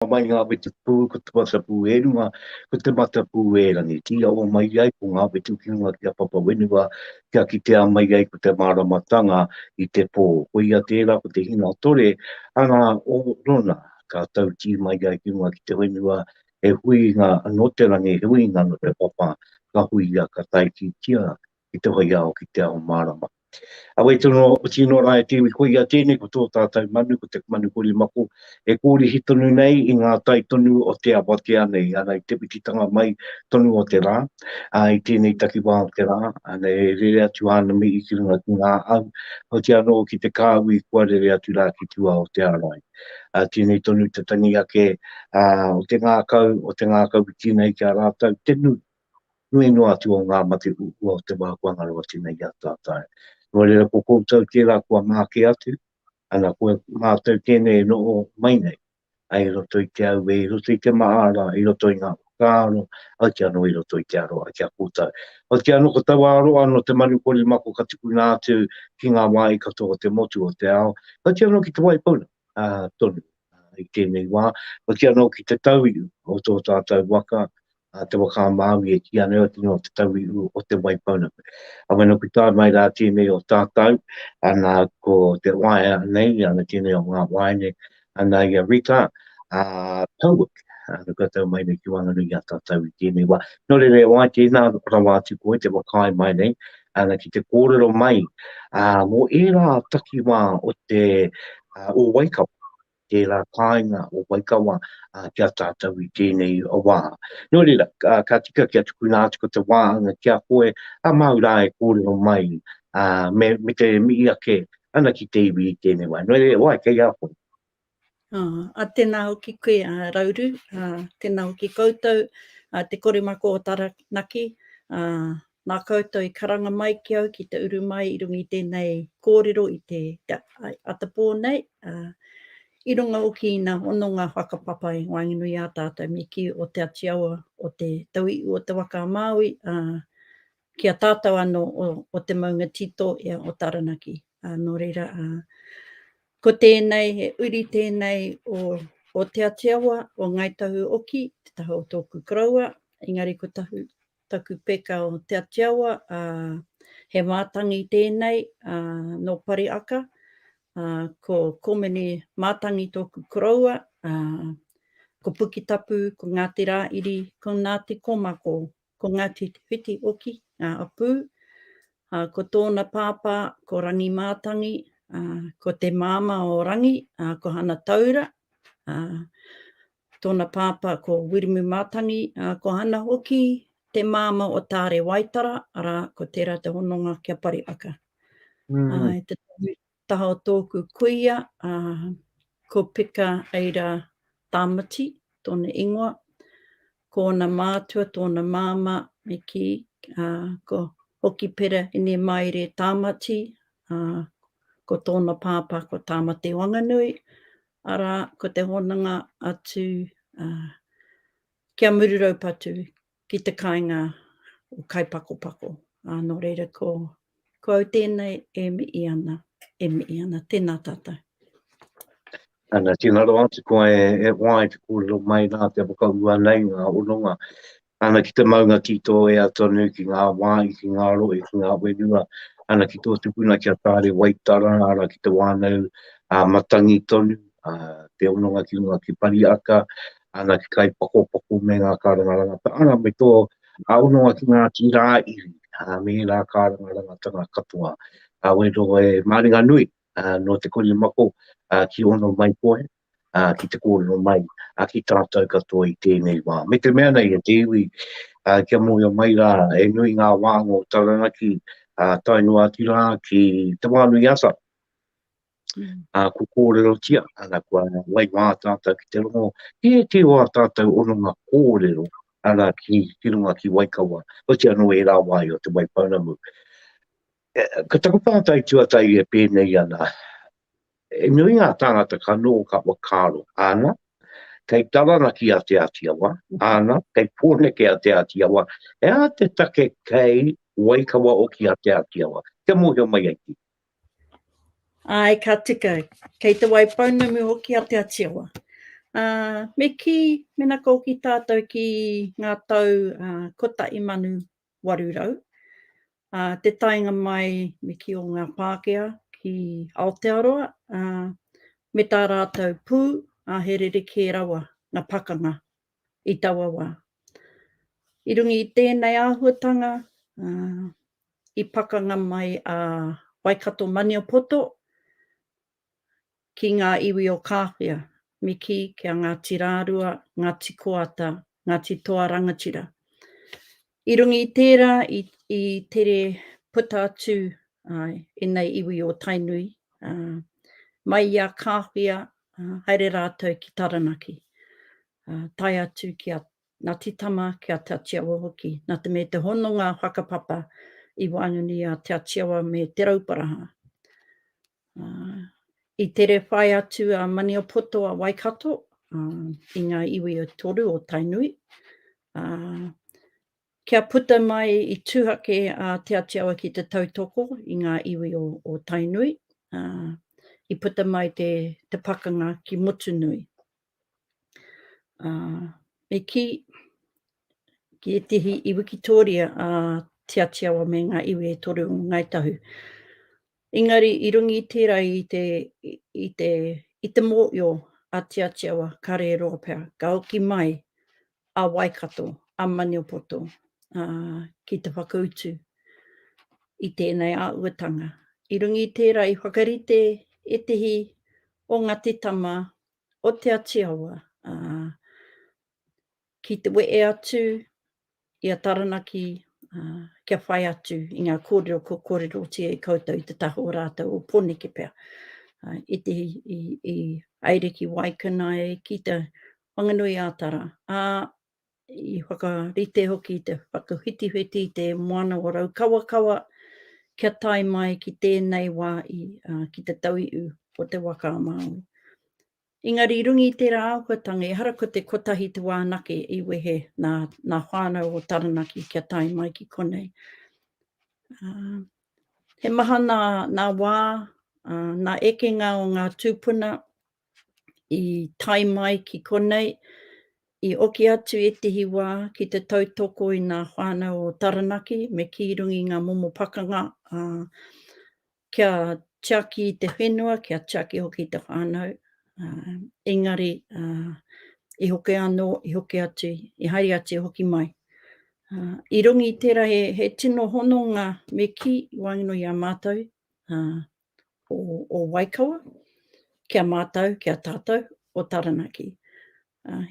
Ka mai ngā whetupū, ko te matapū e runga, ko te matapū e rangi. Ki aua mai ai ko ngā whetu ki runga ki a Papa Whenua, kia kitea mai ai ko te māramatanga i te pō. Koia tērā ko te hinatore, ana o Rona, ka tautī mai ai ki runga ki te whenua, he huinga nō te rangi, he huinga nō te papa, ka huia, ka taititia i te hoi ao ki te ao mārama. Awai tonu o oti ino rā e te iwi koia tēnei ko tō tātau manu ko te manu korimako e kōrihi tonu nei i ngā tai tonu o te awatea nei ana i te whititanga mai tonu o te rā ā i tēnei takiwā o te rā ana e rere atu āna mihi ki runga ki ngā au oti anō ki te kāhui kua rere atu rā ki tua o te arai ā tēnei tonu te tangi ake ā o te ngākau o te ngākau i tīna i ki a rātau te nui nui noa atu o ngā mate huhua o te wā kua ngaro atu nei i a tātau. Nō reira ko koutou kē rā kua mā kē atu, ana ko mātau tēnei e noho mai nei, ai i roto i te auē, i roto i te mahara, i roto i ngā whakaaro, hoki anō i roto i te aroha ki a koutou. Hoki anō ko taua aroha nō te manu korimako ka tukuna atu ki ngā wāhi katoa o te motu o te ao, hoki anō ki te wai puna tonu i tēnei wā, hoki anō ki te tauihu o tō tātau waka, a Te Waka a Māui e kīia ana e au te ingoa o Te Tauihu o Te Waipounamu. A wai noku tae mai rā tēnei o tātau, ana ko te waea nei, ana tēnei o ngā waea nei, ana i a Rita, a Pauwik, ana kua tau mai nei ki waenganui i a tātau i tēnei wā. Nō reira e wā, tēnā rawa atu koe te whakaae mai nei, ana ki te kōrero mai mō ērā takiwā o te, o Waikawa. tērā kāinga o Waikawa ki a tātou i tēnei wā. Nō reira, ka tika kia tukuna atu ko te wā anga ki a koe, a māu rā e kōrero mai, me te mihi ake ana ki te iwi i tēnei wā. Nō reira, e wai, kei a koe. Ā, tēnā hoki koe, Rauru, tēnā hoki koutou, te koremako o Taranaki, Nā koutou i karanga mai ki au ki te uru mai i runga i tēnei kōrero i te atapō nei, ā, i runga hoki i ngā hononga whakapapa i waenganui ā tātou me kī o Te Ati Awa o te Tauihu o te Waka a Māui, ā, ki a tātou anō o te maunga tito ia o Taranaki. Ā, nō reira, ā, ko tēnei, he uri tēnei o Te Ati Awa, o Ngāi Tahu Oki, te taha o tōku koroua, engari ko Tahu, Taku peka o Te Atiawa, ā, he mātangi tēnei, ā, nō Pariaka, ā, ko Komene Mātangi tōku koroua, ā, ko Pukitapu, ko Ngāti Rāiri, ko Ngāti Komako, ko Ngāti Te Whiti hoki ngā hapū, ā, ko tōna pāpā ko Rangi Mātangi, ā, ko te māmā o Rangi, ā, ko Hana Taura, ā, Tōna pāpā ko Wiremu Mātangi, ā, ko Hana hoki te māmā o Taare Waitara, arā, ko tērā te hononga ki a Pariaka. Ā, i te taha o tōku kuia, ā, ko Pika Eira Tāmati tōna ingoa, ko ōna mātua tōna māmā, me kī, ā, ko Hokipera Inemaere Tāmati, ā, ko tōna pāpā ko Tāmati Wanganui, Arā, ko te hononga atu ki a Muru-raupatu ki te kāinga o Kaipakopako. Ā, nō reira ko, ko au tēnei e mihi ana, e mihi ana. Tēnā tātou. Ana, tēnā rawa atu koe e hoa i te kōrero mai rā kia whakaūa nei ngā hononga Ana ki te maunga ki tō ea tonu, ki ngā wāhi, ki ngā rohe, ki ngā whenua, ana ki tō tupuna ki a Tāre Waitara, ana ki te wānau a Matangi tonu, te hononga ki runga ki Pariaka, ana ki Kaipakopako me ngā karanga rangata, ana me tō hononga ki Ngāti Rāiri, me ērā karanga rangatanga katoa. Wero e māringanui nō te korimako ki ono mai koe, ki te kōrero mai ki tātou katoa i tēnei wā. Me te mea nei e te iwi, kia mōhio mai rā, he nui ngā wānga o Taranaki, tae noa atu rā ki Te Wānuiata. Ko kōrerotia, ana kua wai wā tātou ki te rongo, i ētehi o ā tātou hononga kōrero, arā ki runga ki Waikawa, oti anō ērā wā i o Te Waipounamu. Ko taku pātai tuatahi e pēnei ana, He nui ngā tāngata ka noho ka whakaaro, āna, kei taranaki a Te Āti Awa, āna, kei Pōneke a Te Āti Awa, he aha te take kei Waikawa hoki a Te Āti Awa, kia mōhio mai ai ki. Āe, ka tika, kei Te Waipounamu hoki a Te Āti Awa. Ā, me kī, mena ka hoki tātou ki ngā tau 1800, 800, ā, te taenga mai me kī o ngā Pākehā ki Aotearoa, ā, me tā rātou pū, ā, he rerekē rawa ngā pakanga i taua wā. I runga i tēnei āhuatanga, ā, i pakanga mai a Waikato-Maniapoto, ki ngā iwi o Kāwhia, Miki ki a Ngāti Rārua, Ngāti Koata, Ngāti Toa Rangatira. I runga i tērā i, i tere puta atu uh, ēnei iwi o Tainui, uh, mai i a Kāwhia, uh, haere rātou ki Taranaki, uh, tae atu ki a Nā Te Tama ki a Te Atiawa hoki, nā te me te hononga whakapapa i waenganui i a Te Atiawa me Te Rauparaha. I tere whai atu a Maniapoto a Waikato i ngā iwi e toru o Tainui, kia puta mai i tuhake a Te Atiawa ki te tautoko i ngā iwi o Tainui, i puta mai te pakanga ki Motunui. Ā, me kī, ki ētehi i wikitōria a Te Atiawa me ngā iwi e toru o Ngāi Tahu. Engari, i runga i tērā i te, i te, i te mōio a Te Atiawa, kāre e roa pea, ka hoki mai a Waikato, a Maniapoto, ā, ki te whakautu i tēnei āhuatanga. I runga i tērā, i whakarite ētehi o ngā titama o Te Ati Awa, ā, ki te wehe atu i a Taranaki, ā, kia whai atu i ngā kōrero kua kōrerotia i koutou i te taha o rātou o Poneke pea, ā, i te, i, i haere ki Waikanae, ki Te Whanganui-ā-Tara, ā, i whakarite hoki i te whakawhitiwhiti i te moana o Raukawakawa kia tae mai ki tēnei wā i, uh, ki te tauiu o te waka a Māui. Engari rungi i tērā āhuatanga, ehara ko te kotahi te wānake i wehe nā, nā whānau o Taranaki kia tae mai ki konei. Uh, he maha nā, nā wā, uh, nā ekenga o ngā tūpuna i tae mai ki konei, i oki atu ētehi wā ki te tautoko i ngā whānau o Taranaki me kī runga i ngā momo pakanga, ā, kia tiaki i te whenua, kia tiaki hoki i te whānau, ā, engari, ā, i hoki anō, i hoki atu, i haere atu, i hoki mai. Ā, i runga i tērā he, he tino hononga me kī i waenganui i a mātou, ā, o Waikawa, ki a mātou, ki a tātou o Taranaki.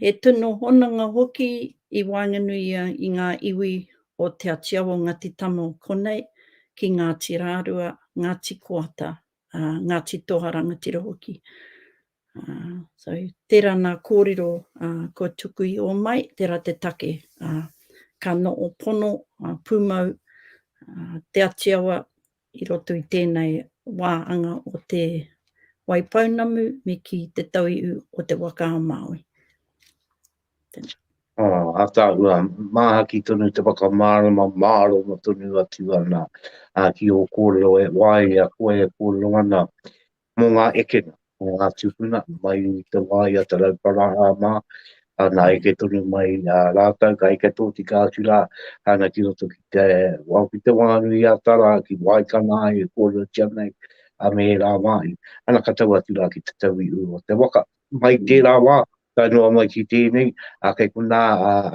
He tino hononga hoki i waenganuia i ngā iwi o Te Atiawa o Ngati Tama o konei, ki Ngāti Rārua, Ngāti Koata, Ngāti Toha Rangatira hoki. So, tērā nā kōrero kua tuku i ō mai, tērā te take ka noho pono, pūmau Te Atiawa I roto i tēnei wā anga o Te Waipounamu me ki te tauihu o Te Waka-a-Māui. Tēnā. Oh, ataahua, māhaki tonu te whakamārama, māroma tonu atu ana uh, ki ō kōrero e wāia koe e kōrero ana mō ngā ekenga o ngā tūpuna mai i te wā i a Te Rauparaha mā, nā eke tonu mai rātou, ka eke tōtika atu rā ana ki roto ki te wao, ki te Wānui-a-Tara, ki Waikana ai e kōrerotia nei, a me ērā wāhi, ana ka tau atu rā ki te tauihu o te waka. Mai tērā wā, Tae noa mai ki tēnei, kei konā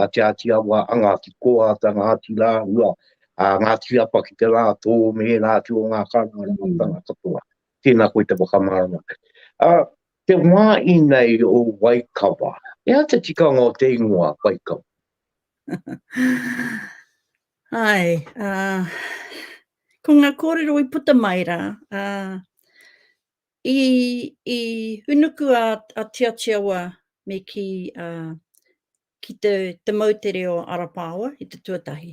a Te Āti Awa, a Ngāti Koa, a Ngāti Rāhua, a Ngāti Apa ki te rātō me ērā atu o ngā kāwanatanga katoa. Tēnā koe te whakamārama. Te wā inei o Waikawa, he aha te tikanga o te ingoa Waikawa? Ai, ko ngā kōrero i puta mai rā, I i hunuku a a Tiatia wa me ki a ki te te moutere o Arapaoa i te tuatahi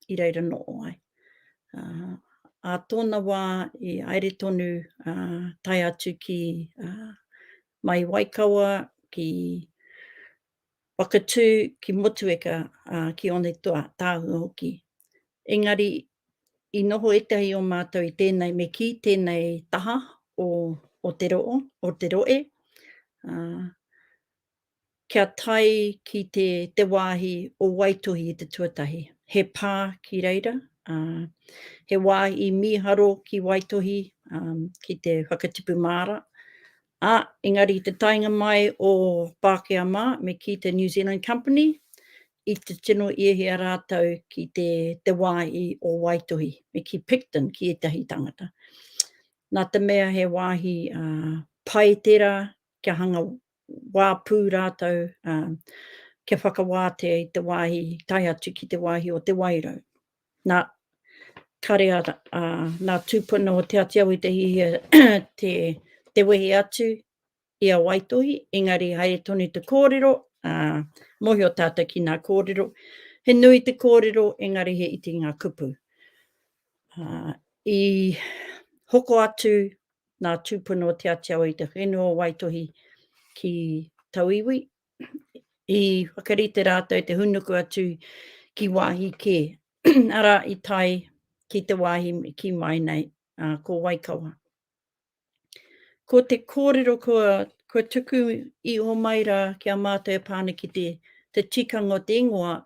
i reira noo ai. A a tona wa i aere tonu a tae atu ki a mai Waikawa ki Whakatu ki Motueka a ki Onetoa tahua hoki. Engari I noho ētahi o mātou i tēnei me kī, tēnei taha o, o te roo, o te roe, ā, kia tae ki te, te wāhi o Waitohi i te tuatahi. He pā ki reira, ā, he wā i mīharo ki Waitohi, ā, ki te whakatipu māra, Ā, engari i te taenga mai o Pākehā mā, me kī te New Zealand Company, i te tino iehia rātou ki te te wāhi o Waitohi, me kī Picton ki ētahi tāngata. Nā te mea he wāhi pai tērā kia hanga wā pū rātou, kia whakawātea i te wāhi tae atu ki te wāhi o Te Wairau. Na, kare a, a, na tupuna o Te Atiawa i te hihia te, te wehi atu i a Waitohi, engari haere tonu te kōrero, a, mohio tātou ki nā kōrero. He nui te kōrero, engari he iti ngā kupu. A, i hoko atu nā tūpuna o Te Atiawa i te whenua o Waitohi ki tauiwi, i whakarite rātou te hunuku atu ki wāhi kē, arā, i tae ki te wāhi ki mai nei, uh, ko Waikawa. Ko te kōrero kua, kua tuku i o mai rā ki a mātou e pāna ki te, te tikanga o te ingoa,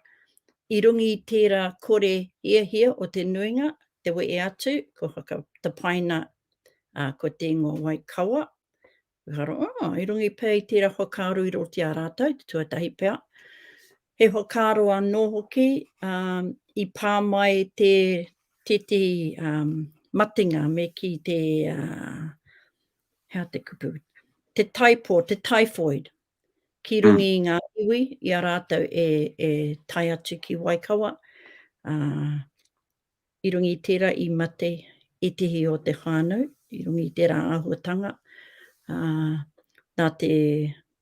i rungi i tērā kore hiahia o te nuinga, te wee atu, ko whakatapaina uh, ko te ingoa Waikawa, Ehara, aa, i runga i pea i tērā whakaaro i roto i a rātou, te tuatahi pea, he whakaaro anō hoki i pā mai te tētehi matenga me kī te, he aha te kupu, te taipo, te typhoid, ki runga i ngā iwi i a rātou e tae atu ki Waikawa, I runga i tērā i mate ētehi o te whānau, i runga i tērā āhuatanga, ā, nā te,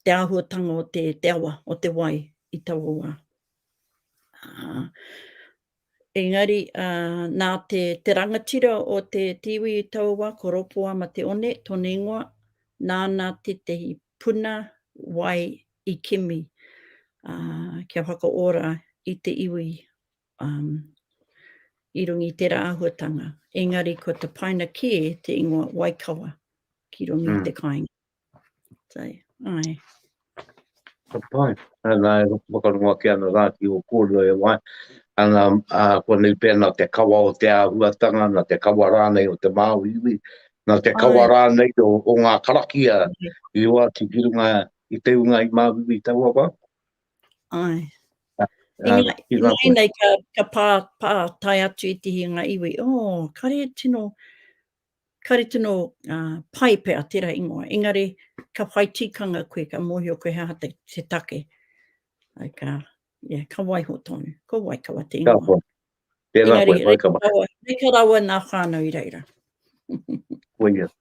te āhuatanga o te, te awa, o te wai i taua wā. Ā, engari, ā, nā te, te rangatira o te, te iwi i taua wā, ko Ropoama Te One tōna ingoa, nāna tētehi puna wai i kimi, ā, kia whakaora i te iwi um, i runga i tērā āhuatanga. Engari ko te paina kē te ingoa Waikawa ki runga mm. te kāinga. So, ai. Ka pai. Ana, e whakarongo ake ana rā ki o kōrua e wai. Ana, a, ko nei pēna te kawa o te āhuatanga, na te kawa rānei o te māuiui, na te kawa ai. rānei o, o ngā karakia i oati ki runga i te unga i māuiui taua wā. Ai. Uh, I ngai nei ka, ka pā, pā tai atu i te hinga iwi. Oh, kare tino, kare tino uh, pai pe a tera ingoa. Engari, ka whai tikanga koe, ka mohio koe haha te, te take. Ai ka, yeah, ka waiho tonu. Ko wai ka wate ingoa. Ka wai. Tēnā koe, wai ka wai. Reka rawa nā whānau i reira. Koia.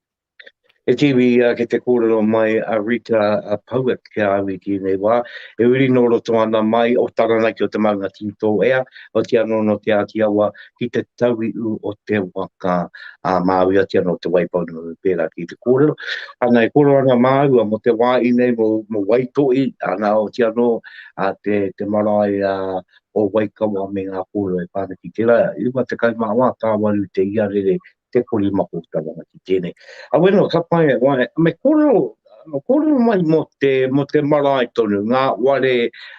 E te iwi ia ki te kōrero mai a Rita Poet ki a au i tēnei wā, e uri nō roto ana mai o Taranaki o te maunga Tito ea, oati anō nō Te Āti Awa ki te tauiu o te waka a Māui, oati anō Te Waipounamu pērā ki te kōrero. Ana e kōrero ana māua mō te wāhi nei mō Waitohi, ana oati anō te marae o Waikawa me ngā kōrero e pā ana ki tērā, 54 tāwaru te iarere te pori mako ki te wanga ki tēnei. Awe no, ka pai e wai, me kōrero, kōrero mai mo te, mo te marae tonu, ngā ware,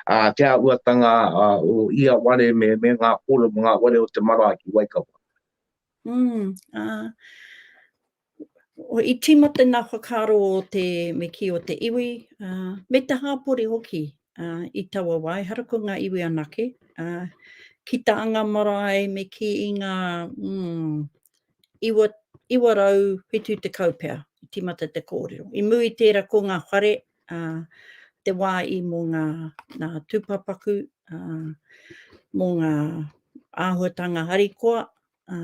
a, te āhuatanga a, o ia ware me, me ngā kōrero mo ngā ware o te marae ki Waikawa. Mm, ah. O i tīmata ngā whakaaro o te me ki o te iwi, uh, me te hāpori hoki. i taua wā, ehara ko ngā iwi anake, ā, ki tā ngā marae me kī i ngā, mm, iwa, 970 pea i tīmata te kōrero. I mū i tērā ko ngā whare, ā, te wā i mō ngā, ngā tūpāpaku, ā, mō ngā āhuatanga harikoa, ā,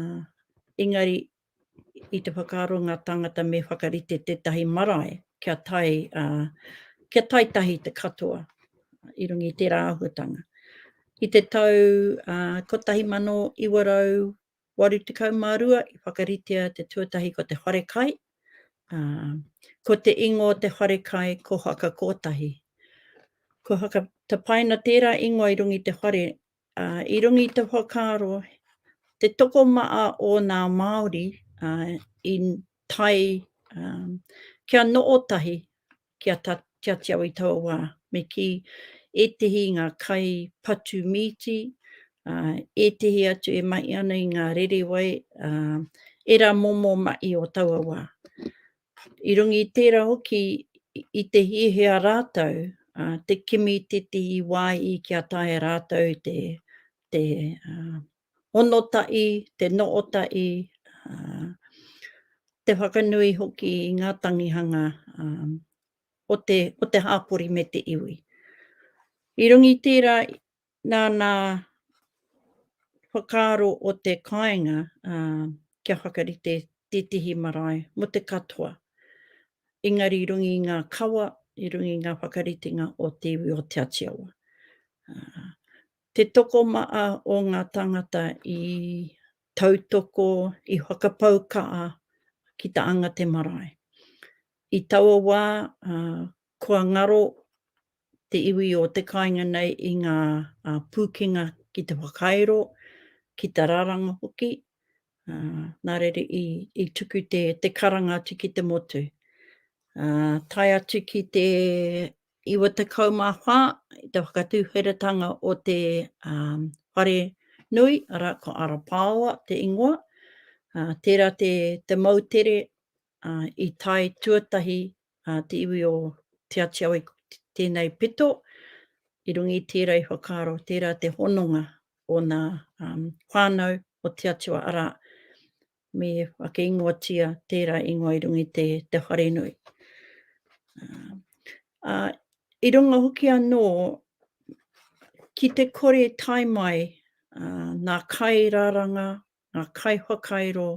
engari I te whakaaro ngā tāngata me whakarite tētahi marae kia tae, ā, kia tae tahi te katoa i runga i tērā āhuatanga. I te tau 1982 i whakaritea te tuatahi ko te wharekai, ā, ko te ingoa o te wharekai ko Haka Kotahi. Kua whakatapaina tērā ingoa i runga i te whare Ā, i runga i te whakaaro, te tokomaha o nā Māori, ā, i tae, ā, kia noho tahi, kia ta, kia tiau i taua wā. Me kī, ētehi i ngā kai patu mīti, ā, ētehi atu e mahi ana i ngā rerewai, ā, ērā momo mahi o taua wā. I runga i tērā hoki i te hiahia rātou te kimi titi i wāhi kia taea rātou te hono tahi, te noho tahi, te whakanui hoki i ngā tangihanga o te hapori me te iwi. I runga i tērā Nā ngā whakaaro o te kāinga kia whakarite tētehi marae mō te katoa, engari i runga i ngā kawa, i runga i ngā whakaritenga o te iwi o Te Atiawa. Te tokomaha o ngā tāngata i tautoko, i whakapau kaha ki te anga te marae. I taua wā, kua ngaro te iwi o te kāinga nei i ngā pūkenga ki te whakairo, ki te raranga hoki, nā reira i tuku te karanga atu ki te motu. Tae atu ki te 94, i te whakatūwheratanga o te whare nui, arā, ko Arapaoa te ingoa, tērā te moutere I tae tuatahi a te iwi o Te Atiawa i tēnei pito, i runga i tērā i whakaaro tērā te hononga o nā whānau o Te Atiawa, arā, me ake ingoatia tērā ingoa i runga i te wharenui. I runga hoki anō, ki te kore tae mai nā kairaranga ngā kaiwhakairo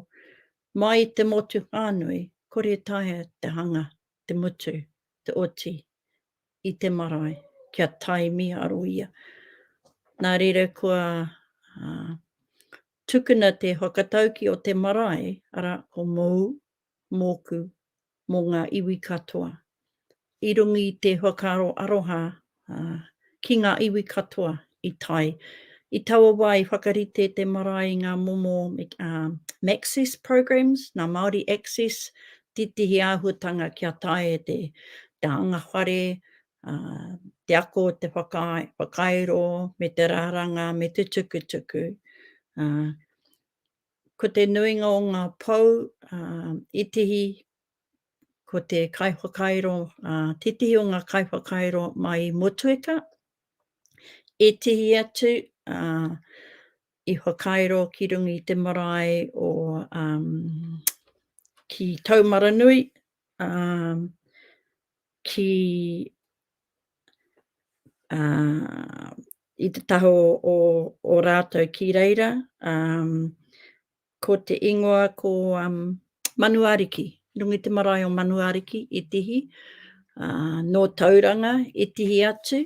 mai i te motu whānui, kore taea te hanga, te mutu, te oti i te marae kia tae mīharo ia. Nā reira kua tukuna te whakatauki o te marae, arā, ko Mōu, mōku, mō ngā iwi katoa. I runga i te whakaaro aroha ki ngā iwi katoa i tae. I taua wā i whakarite te marae i ngā momo MACCESS programs, nā Māori Access, tētehi āhuatanga kia taea e te anga whare, te ako o te whakairo me te raranga me te tukutuku. Ko te nuinga o ngā pou itihi, ko te kaiwhakairo titihi o ngā kaiwhakairo mai i Motueka, itihi atu i whakairo ki runga i te marae o ki Taumaranui, ki i te taha o rātou ki reira, ko te ingoa ko Manuariki, runga i te marae o Manuariki i tihi, nō Tauranga i tihi atu,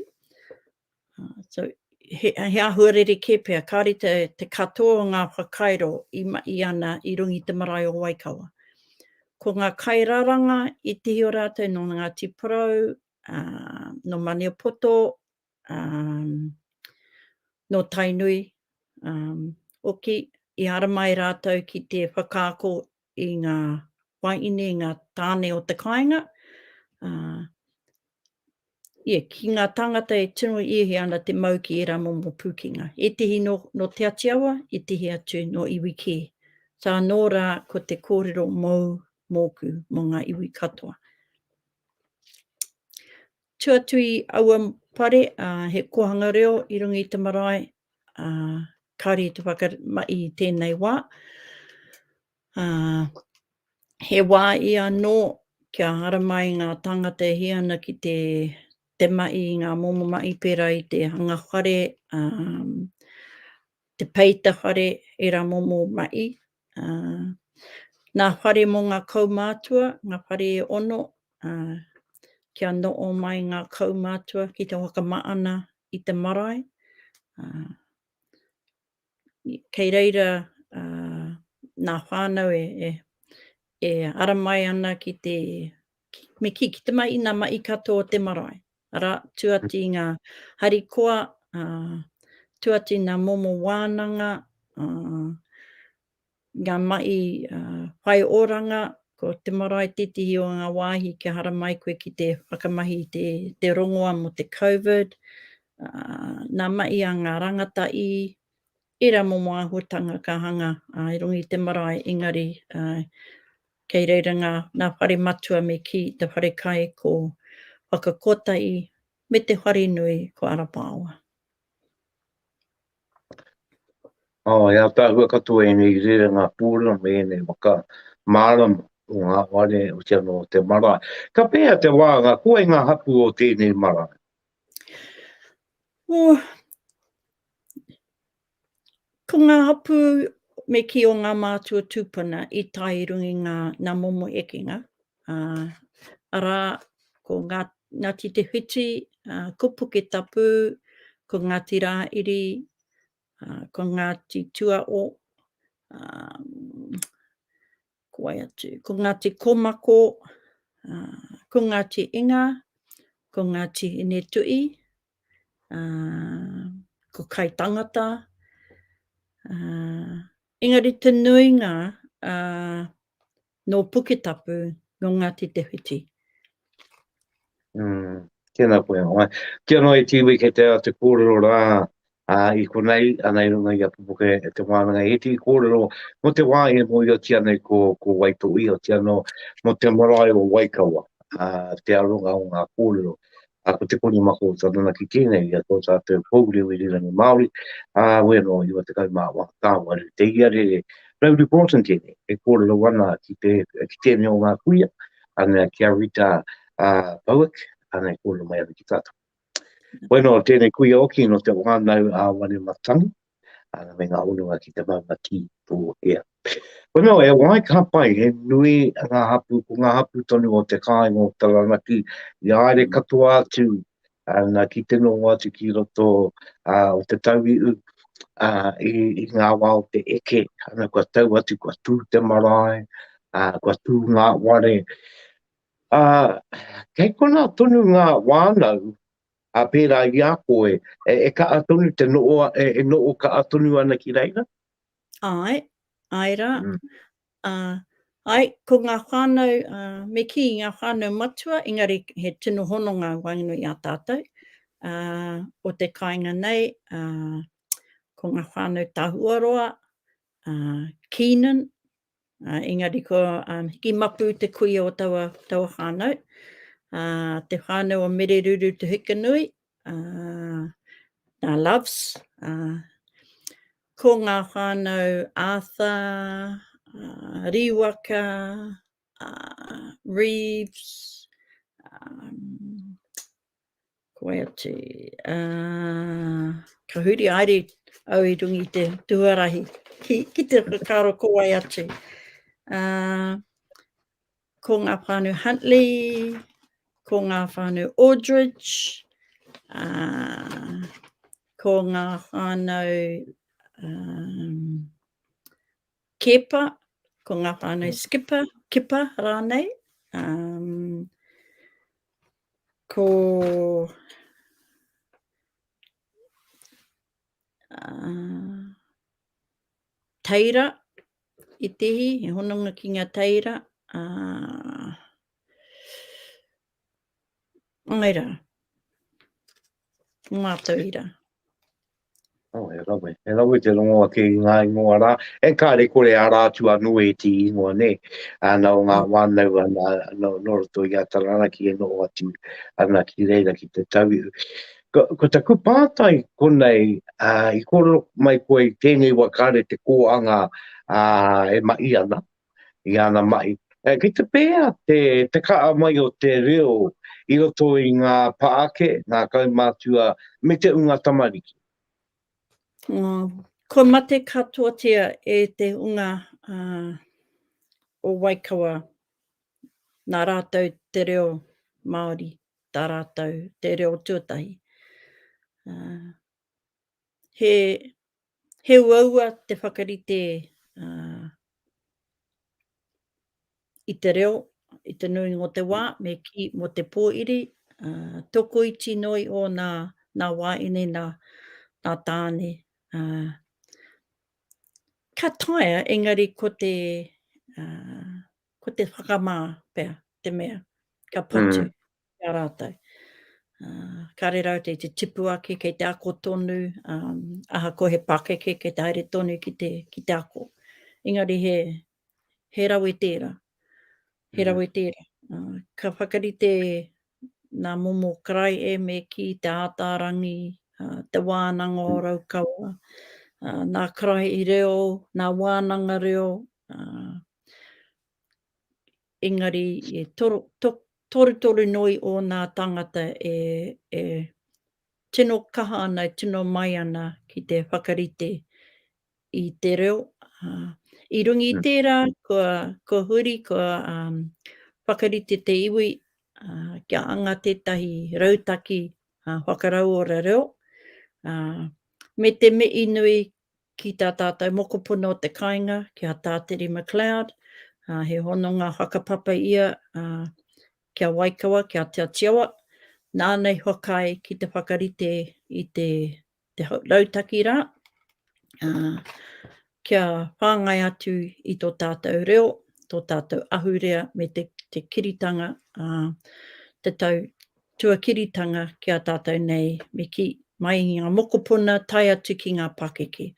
so he āhua rerekē pea, kāore te katoa o ngā whakairo i mahi ana i runga i te marae o Waikawa. Ko ngā kairaranga i tihi o rātou nō Ngāti Porou, nō Maniapoto, nō Tainui hoki, i haramai rātou ki te whakaako i ngā wāhine, i ngā tāne o te kāinga, ā, ia, ki ngā tāngata e tino iehia ana te mau ki ērā momo pūkenga, ētehi nō, nō Te Atiawa, ētehi atu nō iwi kē. Sā anō rā ko te kōrero mōu, mōku, mō ngā iwi katoa. Tū atu i aua pare, he kōhanga reo i runga i te marae, kāore i te whakamahi i tēnei wā. He wā i anō kia haramai ngā tāngata e hia ana ki te mahi i ngā momo mahi pērā i te hanga whare, te peita whare, ērā momo mahi. Ngā whare mō ngā kaumātua, ngā whare e ono, kia noho mai ngā kaumātua ki te whakamaana i te marae. Kei reira ngā whānau e ara mai ana ki te Me kī, ki te mahi i ngā mahi katoa o te marae, arā, tū atu i ngā harikoa, tū atu i ngā momo wānanga, ngā mahi whai oranga, ko te marae tētehi o ngā wāhi kia haramai koe ki te whakamahi i te rongoa mō te Covid, ngā mahi a ngā rangatahi, Ērā momo āhuatanga ka hanga i runga i te marae engari kei reira ngā whare matua me kī i te whare kai ko Whakakotahi me te whare nui ko Arapaoa. E ataahua katoa ēnei rerenga pūrua me ēnei waka mārama o ngā whare, hoki anō o te marae. Ka pēhea te wānga koe i ngā hapū o tēnei marae? Oh, ko ngā hapū me kī o ngā mātua tūpuna i tae i runga i ngā, nā momo ekenga, uh, arā, ko ngā, Ngāti Te Whiti, uh, ko Puketapu, ko Ngāti Rāiri, uh, ko Ngāti Tuao, um, Ko wai atu? Ko Ngāti Komako, ko Ngāti Inga, ko Ngāti Hinetuʻi, ko Kaitangata, engari te nuinga nō Puketapu, nō Ngāti Te Whiti. Mm, tēnā koe anō. Eh. Ki anō e tīwī kei te te kōrero rā a, i konei, ana i runga i a pupuke e te wānanga. He tī kōrero mo te wā e mo i o tia nei ko, ko Waitohi, o tia no mo te marae o Waikawa, a, te aronga o ngā kōrero. A ko te koni mako o tana ki tēnei, i a tō tātou pōuri o Irirangi Māori, a wēno i wa te kai mā wā tāwaru. Te ia re, rau reportant tēnei, e kōrero wana ki, te, ki tēnei o ngā kuia, Ana ki a Rita Bowick, ana e kōrero mai ana ki tātou. Koe nō tēnei kuia oki nō te whānau a Wanematane, ana me ngā hononga ki te maunga ki tō ea. Koe nō e wāi ka pai, he nui ngā hapū, ko ngā hapū tonu o te kāinga o Taranaki, i āere katoa atu ā, ngā kitenonga atu ki roto, ā, o te tauihu, ā, i, i ngā wā o te eke, ana kua tau atu, kua tū te marae, ā, kua tū ngā ware. Ā, kei konā tonu ngā wānau, ā, pērā i a koe, e, e kaʻa tonu te noʻo, e, e noʻo kaʻa tonu ana ki reira? Āe, āe rā. Mm. Ā, āe, ko ngā whānau, ā, me kī i ngā whānau matua, engari he tino hononga waenganui i a tātou, ā, o te kāinga nei, ā, ko ngā whānau Tahuaroa, ā, Keenan, ā, engari ko, ā, Hikimapu te kuia o taua, taua whānau, ā, te whānau o Mereruru Tuhikinui, Uh, nā Loves, uh, ko ngā whānau Arthur, uh, Riwaka, uh, Reeves, um, ko e atu, uh, ka huri aere au i rungi te tuarahi, ki, ki te kakaro ko wai atu. Uh, Ko ngā whānau Huntley, ko ngā whānau Aldridge, uh, ko ngā whānau um, Kepa, ko ngā whānau mm. Skipper, Kipa rānei, um, ko uh, teira, i tehi, he hononga ki ngā teira. Uh, ngai rā, ngā tauira. Oh, e rawe, e rawe te rongo ake i ngā ingoa rā. E kā re kore a rā atu anō e tī ingoa, ne? Ana o ngā mm. wānau ana, no, no roto i a Taranaki e noo atu ana ki reira ki te tau. Ko, ko taku pātai konei, ā, i kōrero mai koe i tēnei wā kāre te kōanga, ā, e mahi ana, i āna mahi. Ā, ki te pēhea te, te kaha mai o te reo i roto i ngā pā ake, ngā kaumātua, me te ūnga tamariki? Ā, kua mate katoatia e te ūnga, ā, o Waikawa, nā rātou te reo Māori. tā rātou te reo tuatahi. He, he uaua te whakarite i te reo, i te nui ngō te wā, me kī mō te pōiri, uh, tokoiti noi o nā, nā wāine, nā, nā tāne. Uh, ka taia, engari ko te, uh, ko te whakamā pea te mea ka patu mm. ki a rātou. Uh, ka re rau te, te tipu ake kei te ako tonu, um, aha ko he pakeke kei te haere tonu ki te, ki te ako. Engari he, he rawe tēra, he mm. rawe tēra. Uh, ka whakarite nā momo karai e me ki te ātārangi, uh, te wānanga o mm. Raukawa, uh, nā karai i reo, nā wānanga reo, uh, engari e torutoru noi ōnā tāngata e tino kaha ana, e tino mai ana ki te whakarite i te reo. I runga i tērā, kua huri, kua whakarite te iwi kia anga tētahi rautaki whakarauora reo, me te mihi nui Ki tā tātou mokopuna o te kāinga, ki a Tāteri McLeod, he hononga whakapapa ia ki a Waikawa, ki a Te Atiawa, nāna i whakaae ki te whakarite i te rautaki rā, kia whāngai atu i tō tātou reo, tō tātou ahurea me te kiritanga te tau Tuakiritanga ki a tātou nei me kī, mai i ngā mokopuna tae atu ki ngā pakeke.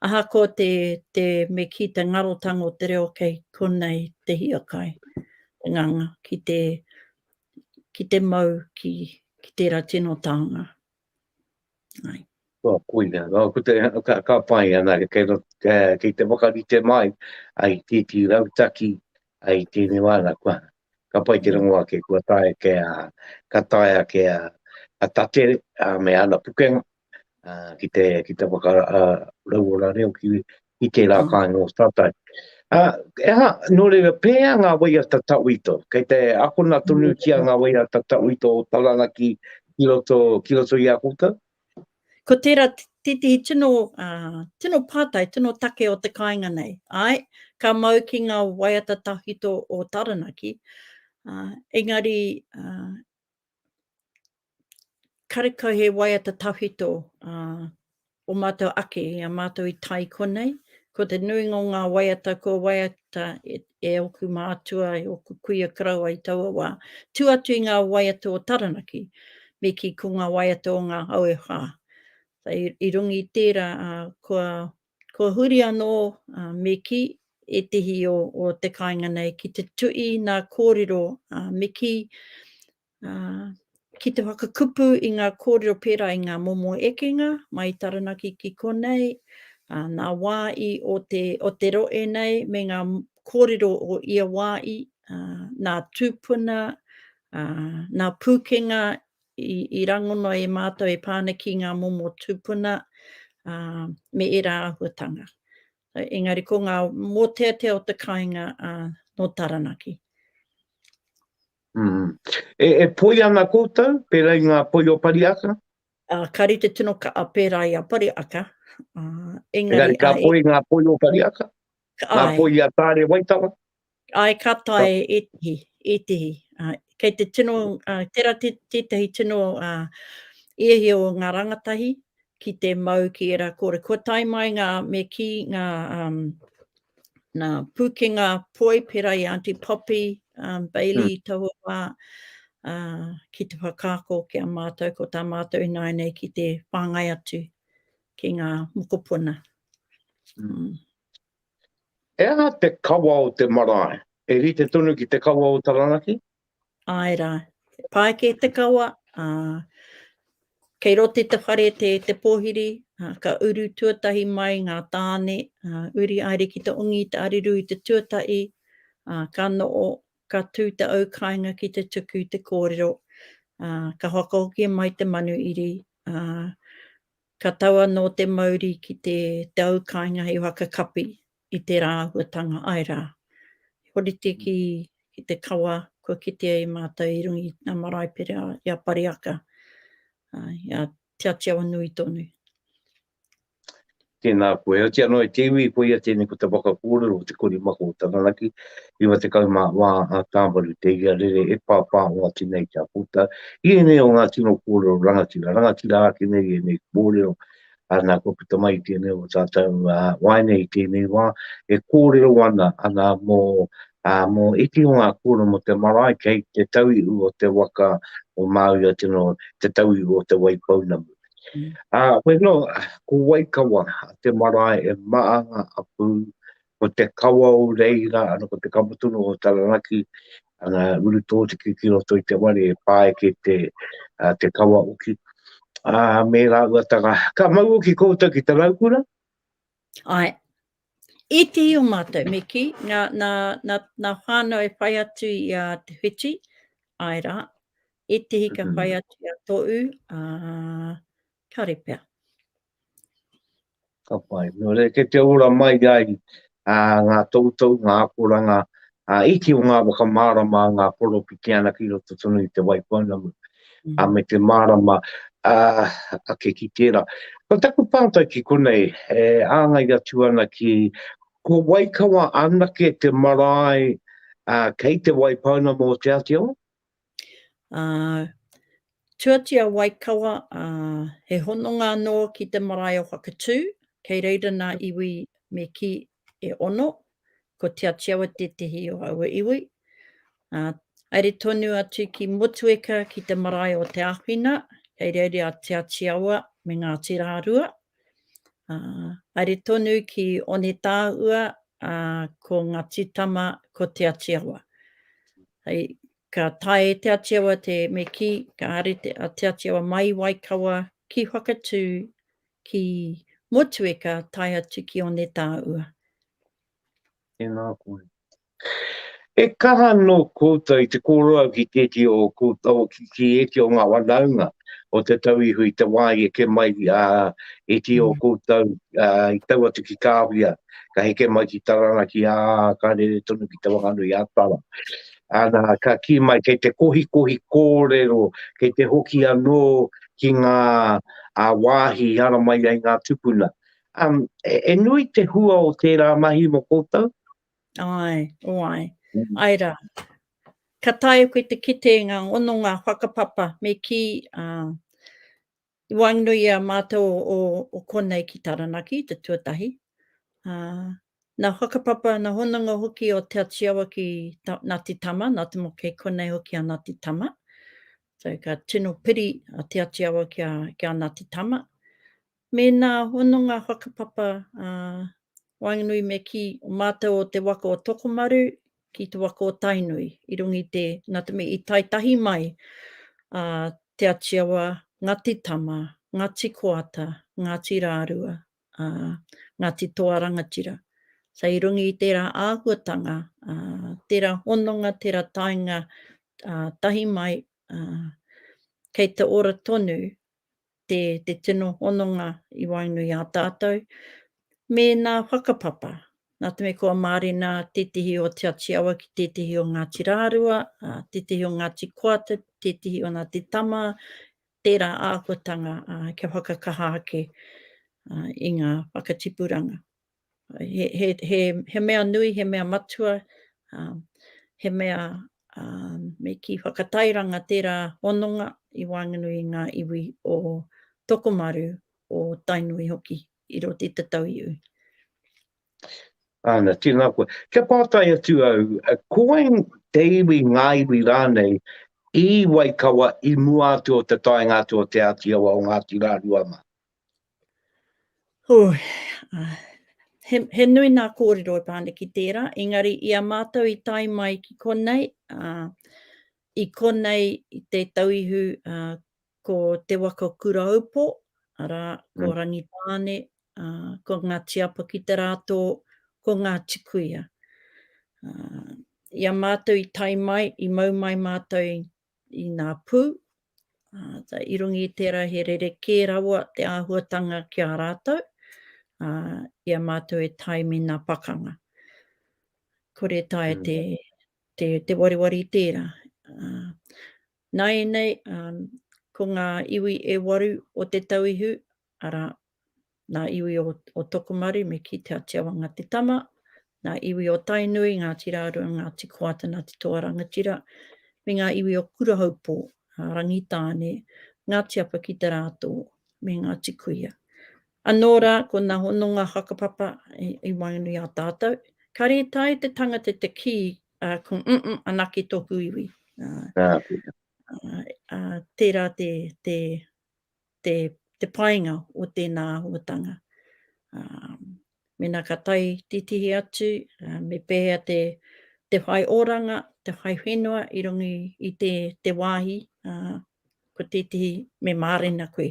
Ahakoa te, te, me kī te ngarotanga o te reo kei konei te hiakai, te nganga ki te, ki te mau ki, ki tērā tino taonga. Ai. Kua koina, no, ko te, ka, ka pai ana, kei, no, kei te wakarite mai, ai titi rautaki, ai tēnei wāna, kua, ka pai te rongo ake, kua tae ke a, ka tae ake a, a tatere, a me ana pukenga, a, ki te, ki te waka, a, rauora reo ki, i tērā kāinga o tātou. Ā, e aha, nō reira, pēhea ngā waiata tauito? Kei te akona tonutia ngā waiata tauito o Taranaki ki roto, ki roto i a koutou? Ko tērā tētehi tino, ā, tino pātai, tino take o te kāinga nei. Āe, ka mau ki ngā waiata tauito o Taranaki, ā, engari, ā, karekau he waiata tawhito o mātou ake, i a mātou i tae i konei, ko te nuinga o ngā waiata kua waiata e ōku mātua, e ōku kuia karaua i taua wā, tū atu i ngā waiata o Taranaki, me kī ko ngā waiata o ngā Auewha. I runga i tērā, kua Kua huri anō, ā, me kī ētehi o, o te kāinga nei ki te tuʻi nā kōrero, ā, me kī, ā, ki te whakakupu i ngā kōrero pērā i ngā momo ekenga mai i Taranaki ki konei, ā, nā wā i o te, o te rohe nei me ngā kōrero o ia wā i, ā, nā tūpuna, ā, nā pūkenga I rangona e mātou e pā ana ki ngā momo tūpuna me ērā āhuatanga. Engari ko ngā mōteatea o te kāinga nō Taranaki. E poi ana koutou, pērā i ngā poi o Pariaka? Ka rite tino kaha pērā i a Pariaka. Engari ka poi ngā poi o Pariaka? Ngā poi a Tāre Waitara? Āe, ka tae ētehi, ētehi. Kei te tino, tērā tētehi tino hiahia o ngā rangatahi ki te mau ki ērā kōrero. Kua tae mai ngā, me kī, ngā nā pūkenga poi pērā i a Aunty Poppy, Bailey i taua wā, ki te whakaako ki a mātou, ko tā mātou i nāianei ki te whāngai atu. Ki ngā mokopuna. Mm. He aha te kawa o te marae? E rite tonu ki te kawa o Taranaki? Āe rā. He pāeke te kawa. Uh, kei rote te whare te, te pōhiri, uh, ka uru tuatahi mai ngā tāne, uh, uri aere ki te ongi, te ariru i te tuatahi, uh, ka noo, ka tū te au kāinga ki te tuku te kōrero, uh, ka whakahoki mai te manu iri, uh, Ka tau anō te mauri ki te tau kāinga i Whakakapi i te rā āhuatanga ai rā. I horite ki te kawa kua kitea e mātou i runga i ngā marae pērā i a Pariaka, i a Te Atiawanui tonu. Tēnā koe. Otianō e te iwi, koia tēnei ko te waka kōrero o te kori mako o Taranaki. 90 mā wā a Tāmaru te ia rere e pāpā o a Tinei ki a Pota, i ēnei o ngā tino kōrero rangatira, rangatira ake nei ēnei kōrero, ā, nā kua puta mai tēnei o tātou waeine i tēnei wā, e kōrero ana, ana mō, ā, mō iti o ngā kōrero mō te marae kei te tauihu o te waka o Māui a Tino, te tauihu o Te Waipounamu. Ā, koe nō, ko Waikawa te marae e maanga a Pū, Ko te kawa o reira, ano ko te kawa tonu o Taranaki, ana uru totiki ki roto i te ware e paeke te, uh, te kawa uki. Uh, me raua taka, ka mau uki koutou ki te raukura? Ai, e te i o mātou, me ki, nā, nā, nā, nā whānau e whai atu i a te whiti, ai rā, e te hika mm-hmm. whai atu i a tōu, uh, kare pea. Ka pai. Nō reira, kei te ora mai ai ngā tohutohu, ngā akoranga iti o ngā whakamārama a ngā Poropitiana ki roto tonu i Te Waipounamu, ā, me te mārama ake ki tērā. Ko taku pātai ki konei, e āngai atu ana ki, ko Waikawa anake te marae kei Te Waipounamu o Te Āti Awa? Tuatia Waikawa, he hononga anō ki te marae o Whakatū, kei reira nā iwi me kī e ono, ko Te Atiawa tētehi o aua iwi. Haere tonu atu ki Motueka ki te marae o Te Āwhina, kei reira a Te Atiawa me Ngāti Rārua. Haere tonu ki Onetāua, ā, ko Ngati Tama, ko Te Atiawa. Hei, ka tae e Te Atiawa te me kī, ka haere a Te Atiawa mai i Waikawa ki Whakatū, ki Motueka tae atu ki Onetāua. Tēnā koe. He kaha anō koutou i te kōrero ki tētehi o ō koutou, ki ētehi o ngā whanaunga o te tau iho i te wā i eke mai ētehi o koutou i tau atu ki Kāwhia, ka heke mai ki Taranaki, ā, ka rere tonu ki Te Whanganui-a-Tara. Ana, ka kī mai, kei te kohikohi kōrero, kei te hoki anō ki ngā wāhi i haramai ai ngā tūpuna. E nui te hua o tērā mahi mō koutou, Ae, oai. Ae ra. Ka taea koe te kite i nga ononga whakapapa me ki a i waenganui a matou o konei ki Taranaki, te tuatahi. Na whakapapa, na hononga hoki o Te Atiawa ki Ngati Tama, na te mo kei konei hoki a Ngati Tama. So ka tino piri a Te Atiawa ki a Ngati Tama. Me nā hononga whakapapa a waenganui me ki o mātou o te waka o Tokomaru ki te waka o Tainui i runga i te nā te mea i tae tahi mai a Te Atiawa, Ngati Tama, Ngati Koata, Ngati Rārua, a Ngati Toa Rangatira. So i runga i tērā āhuatanga, a tērā hononga, tērā taenga tahi mai, a kei te ora tonu te tino hononga i waenui a tātou, me nā whakapapa. Nā te mea kua mārena tētehi o Te Ati Awa ki tētehi o Ngāti Rārua, tētehi o Ngāti Koata, tētehi o Nā Te Tama, tērā āhuatanga kia whakakaha ake i ngā whakatipuranga. he mea nui, he mea matua, he mea me kī whakatairanga tērā hononga i waenganui i ngā iwi o Tokomaru, o Tainui hoki, i roto i te tauiwi. Āna, tēnā koe. Kia pātai atu au, ko wai te iwi, ngā iwi rānei, i Waikawa i mua atu o te taenga atu o Te Āti Awa o Ngāti Rārua mā? He nui nā kōrero e pā ana ki tērā, engari i a mātou i tae mai ki konei, i konei i te tau ihu ko Te Waka o Kuraupo, arā, ko Rangitāne, ko Ngāti Apakiterātō, ko Ngāti Kuia. I a mātou i tae mai, i mau mai mātou i ngā pū, ā, i runga i tērā he rerekē rawa te āhuatanga ki a rātou, ā, i a mātou e tae me ngā pakanga. Kore e taea te, te, te wariwari i tērā. Ā, nāianei, ā, ko ngā iwi e waru o Te Tauihu, arā, nā iwi o Tokomaru me kī Te Atiawanga te tama, nā iwi o Tainui, Ngāti Rārua, Ngāti Koata, Ngāti Toa Rangatira, me ngā iwi o Kurahaupō, Rangitāne, Ngāti Apa ki te Rātō, me Ngāti Kuia. Anō rā, ko nā hononga whakapapa i waenganui i a tātou, ka rētahi te tangata te kī, ko mm, anake tōku iwi. Tērā te te painga o tēnā āhuatanga. Mēnā ka tae titihi atu, me pēhea te whai oranga, te whai whenua i runga i te wāhi, ko tētehi me mārena koe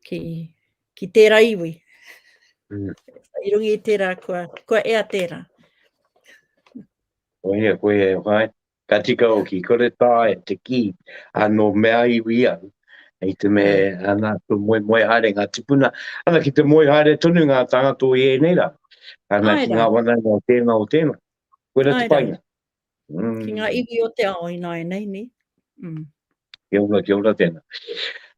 ki tērā iwi. I runga i tērā kua ea tērā. Koia, koia e whai. Ka tika hoki, kore tae te kī, a nō mea iwi au, i te me ana tu moe moe haere ngā tipuna, ana ki te moe haere tonu ngā tāngata o ienei rā, ana ki ngā wanainga o tēnā o tēnā. Koira te painga. Ki ngā iwi o te ao ināianei, nē? Kia ora, kia ora tēnā.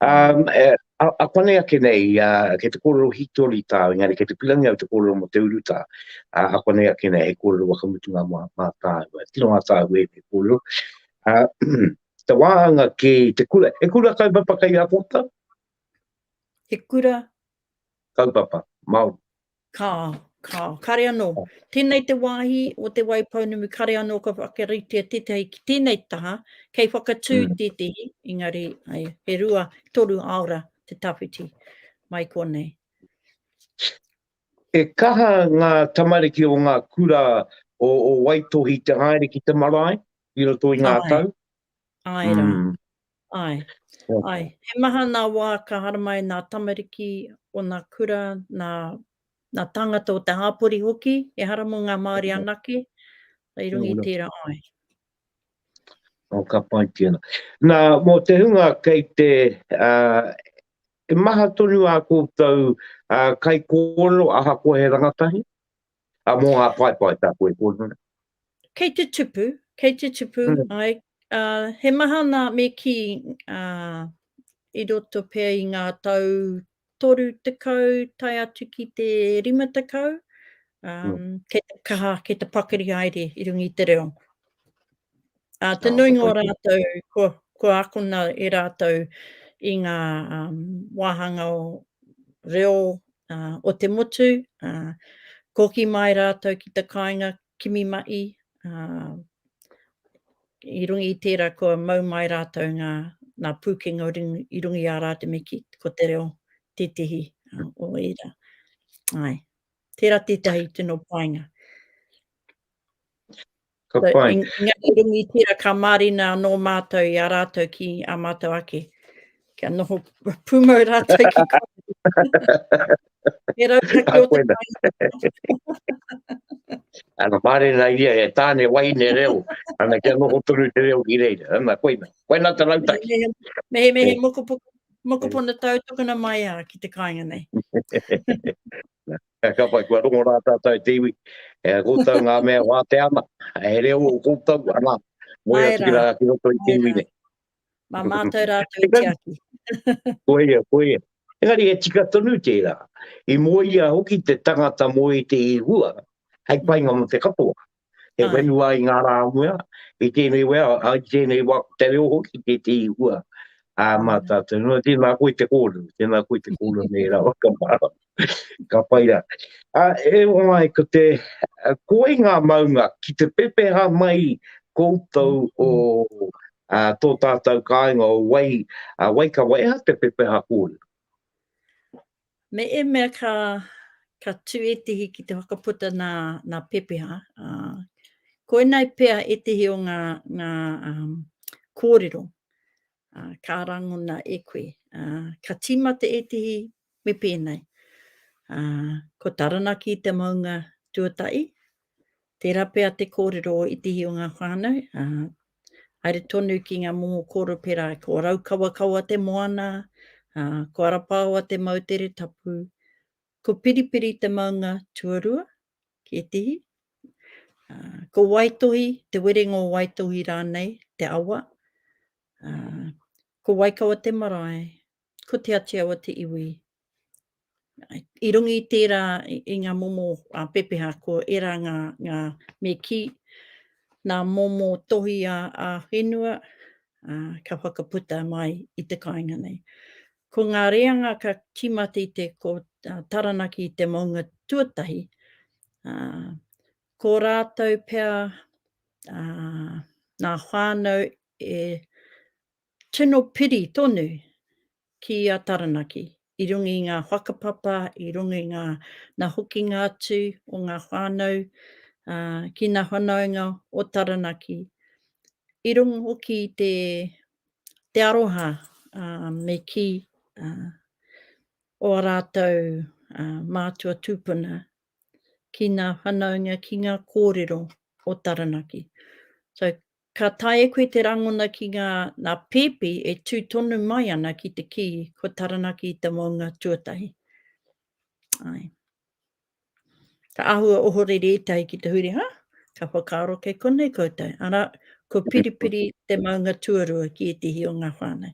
Um, e, a, a panei ake nei, a, kei te kōrero hitori tā, engari kei te pirangi au te kōrero mo te uru tā, a, a panei ake nei, he kōrero wakamutunga mā, mā tāu, e tino ngā tāu e te kōrero. A, te wāhanga ki te kura, he kura kaupapa kei a kōtau? He kura? Kaupapa, Māori. Ka, ka, kare anō. Tēnei te wāhi o Te Waipounamu, kare anō ka whakaritea tētahi ki tēnei taha, kei whakatū mm. tētahi, engari, ai, he rua, toru aora te tawhiti mai konei. E kaha ngā tamariki o ngā kura o, o Waitohi te haere ki te marae, i roto i ngā Ai. tau? Āe rā. Mm. Āe. Āe. He maha nā wā ka haramai nā tamariki o nā kura, nā, nā tāngata o te hāpori hoki, e hara mō ngā Māori anake, i runga i tērā āe. O ka pai tēnā. Nā, mō te hunga kei te, uh, e maha tonu a koutou uh, kai kōrero aha ko he rangatahi? A mō ngā paepae tāku e kōrero nei. Kei te tupu, kei te tupu, ai, uh, he maha nā me ki uh, i roto pea i ngā tau toru tekau, tai atu ki te rima tekau, um, mm. kei te kaha, kei te pakari haere i rungi te reo. Ā, te nuinga o rātou kua, kua akona e rātou i ngā wāhanga o reo o te motu, ā, koki mai rātou ki te kāinga kimi maʻi, ā, i runga i tērā kua mau mai rātou ngā, ngā pūkenga i runga i ā rātou me kī, ko te reo tētehi o ērā. Āe. Tērā tētahi tino painga. Ka pai. So, Ngāti Rangitīra ka mārina anō mātou i a rātou ki a mātou ake. Kia noho pūmau rātou ki kōrero. He rautaki o te whāinga. Ana mārena ia e tāne wahine reo. Ana kia noho tonu te reo ki reira. Ana koina. Koina te rautaki. Mehe, mehe, mehe eh. mokopoko, mokopona tau tokona mai a ki te kāinga nei. Ka kapai, kua rongo rā tātou te iwi, e koutou ngā mea wātea ana, he reo o koutou, ana, moe atu ki rā, ki roto i te iwi nei. Mā mātou rātou i tiaki. Koia, koia. Engari he tika tonu tērā, i moe ia hoki te tangata moe te i hua, hei painga mo te katoa. He whenua i ngā rā mua, i tēnei wea, i tēnei wā, te reo hoki, te te i hua. Ā, mā tātou, no, tēnā koe te kōrero, tēnā koe te kōrero nei rā, ka mārā, ka pai rā. Ā, e o ai, ko te, ko ai ngā maunga, ki te pepeha mai koutou o ā, tō tātou kāinga o wai, ā, wai ka waiha te pepeha kōrero? Me ēmea ka ka tū ētehi ki te whakaputa nā, nā Pepeha, ā, koinei pea ētehi o ngā, ngā um, kōrero ā, ka rangona e koe. Ā, ka tīmata ētehi me pēnei. Ā, ko Taranaki te maunga tuatai, Tērā pea te kōrero o ētehi o ngā whānau, ā, haere tonu ki ngā momo kōrero pērā i ko Raukawakawa te moana, ā, ko Arapaoa te moutere tapu, ko Piripiri te maunga tuarua, ki ētehi, ā, ko Waitohi, Te Werenga o Waitohi rānei, te awa, ā, ko Waikawa te marae, Ko Te Atiawa te iwi. I runga i tērā, i ngā momo pepeha, ko ērā ngā, ngā me kī, nā momo tohi a, a whenua, ā, ka whakaputa mai i te kāinga nei. Ko ngā reanga ka tīmata i te, ko Taranaki te maunga tuatahi, ā, ko rātou pea, ā, nā whānau e Tino piri tonu ki a Taranaki i runga i nga whakapapa, i runga i nga na hokinga atu o nga whanau ki na whanaunga o Taranaki, i runga hoki i te aroha me ki o a ratou mātua tupuna ki na whanaunga ki nga korero o Taranaki. So Ka taea koe te rangona ki ngā nā pēpi e tū tonu mai ana ki te kī ko Taranaki te maunga tuatahi. Ae. Ka āhua ohorere ētahi ki te huri, ha? Ka whakaaro kei konei koutou, arā, ko Piripiri te maunga tuarua ki ētehi o ngā whānau.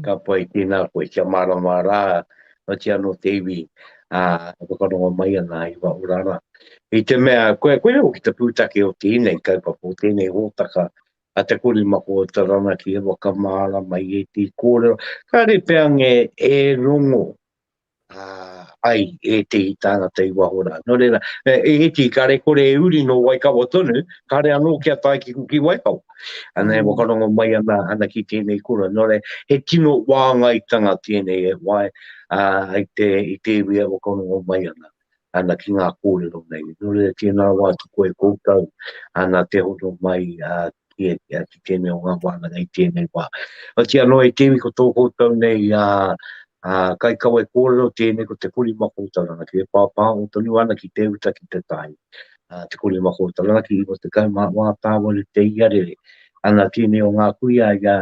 ka pai tēnā koe, kia mārama rā, otii anō te iwi e whakarongo mai ana i wā orara. I te mea, koe, koia hoki te pūtake o tēnei kaupapa, o tēnei hōtaka, a te korimako o Taranaki e whakamārama i ētehi kōrero, kāre pea ngē e rongo ai ētehi tāngata i waho rā. Nō reira, e, e iti ka rekore e uri nō Waikawa tonu, kāre anō kia tae ki, ki Waikawa. Ana e mm. whakarongo mai ana, ana ki tēnei kura. Nō reira, he tino wāngaitanga tēnei e wae uh, i, te, i te iwi e whakarongo mai ana. ana ki ngā kōrero nei. Nō reira, tēnā wā tuku e koutou ana te hono mai ki tēnei o ngā wānanga i tēnei wā. Oati anō e te iwi ko tō koutou nei kaikawe kōrero, tēnei ko te kori makōtau ranaki, e pāpāho tonu ana ki te uta ki te tai, te kori makōtau ranaki, i roto tekau mā wā tāwaru te ia rere. Ana tēnei o ngā kuia i a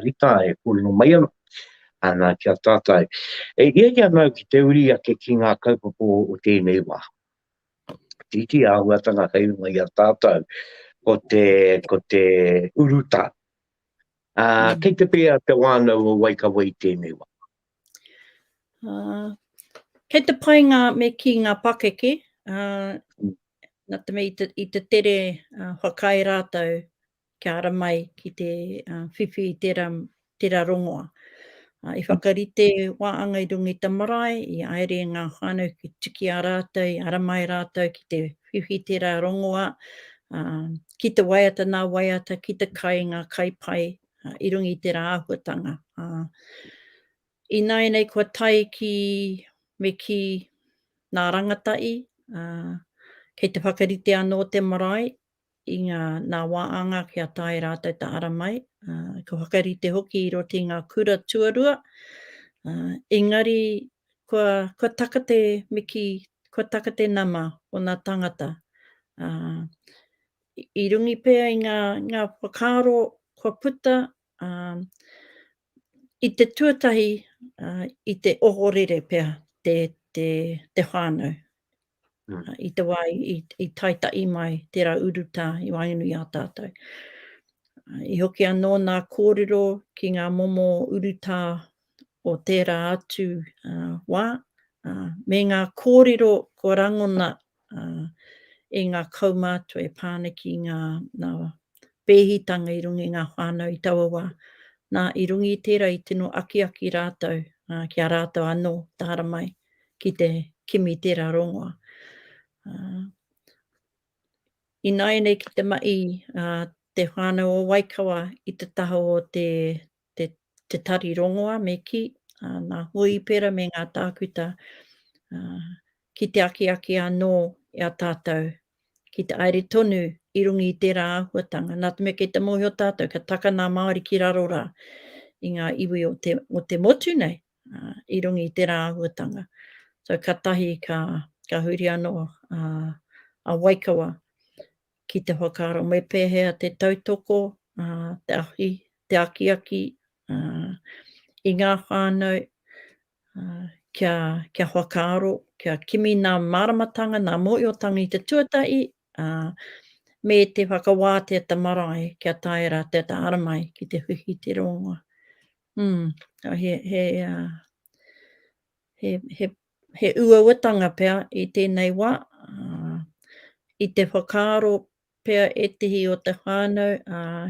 Rita e kōrero mai ana. ana ki a tātou. E hiahia māu ki te uri ake ki ngā kaupapa o tēnei wā. Tītī āhuatanga hei runga i a tātou, ko te, ko te urutā. Ā, kei te pēhea te wānau o Waikawa i tēnei wā? Ā, kei te pai ngā, me kī ngā pakeke, ā, nā te mea i te, i te tere, ā, whakaae rātou, kia ara mai ki te whiwhi i tērā, tērā rongoa. I whakarite waanga i runga i te marae, i haere ngā whānau ki tiki a rātou, i ara mai rātou ki te whiwhi i tērā rongoa, ki te waiata nā waiata, ki te kai i ngā kai pai i runga i tērā āhuatanga. Ināianei kua tae ki, me kī, nā rangatahi, kei te whakarite anō te marae, i ngā nā wā anga kia tae rātou ta ara mai, ka whakarite hoki i roto i ngā kura tuarua, engari kua, kua taka te miki, kua taka te nama o nā tangata, i rungi pea i ngā, ngā whakaaro kua puta, i te tuatahi, i te ohorere pea te, te, te whānau, i te wā i taitaʻi mai tērā urutā i waenganui i a tātou. I hoki anō nā kōrero ki ngā momo urutā o tērā atu wā, me ngā kōrero kua rangona e ngā kaumātua e pā ana ki ngā pēhitanga i runga i ngā whānau i taua wā. Nā, i runga i tērā i tino akiaki rātou ki a rātou anō tāramai ki te kimi tērā rongoa. Ināianei ki te mahi te whānau o Waikawa i te taha o te te tari rongoa me kī, nā Hōipera me ngā tākuta ki te akiaki anō i a tātou ki te aere tonu i runga i tērā āhuatanga, nā te mea kei te mōhio tātou ka taka nā Māori ki raro rā i ngā iwi o te motu nei i runga i tērā āhuatanga. So, ka tahi ka huri anō a Waikawa Ki te whakaaro me pēhea te tautoko, te ahi, te akiaki i ngā whānau kia whakaaro, kia kimi nā māramatanga, nā mōhiotanga i te tuatahi, me te whakawātea te marae kia taea rā te taara mai ki te whiwhi i te rōngoa. He He uauatanga pea i tēnei wā, i te whakaaro pea ētehi o te whānau,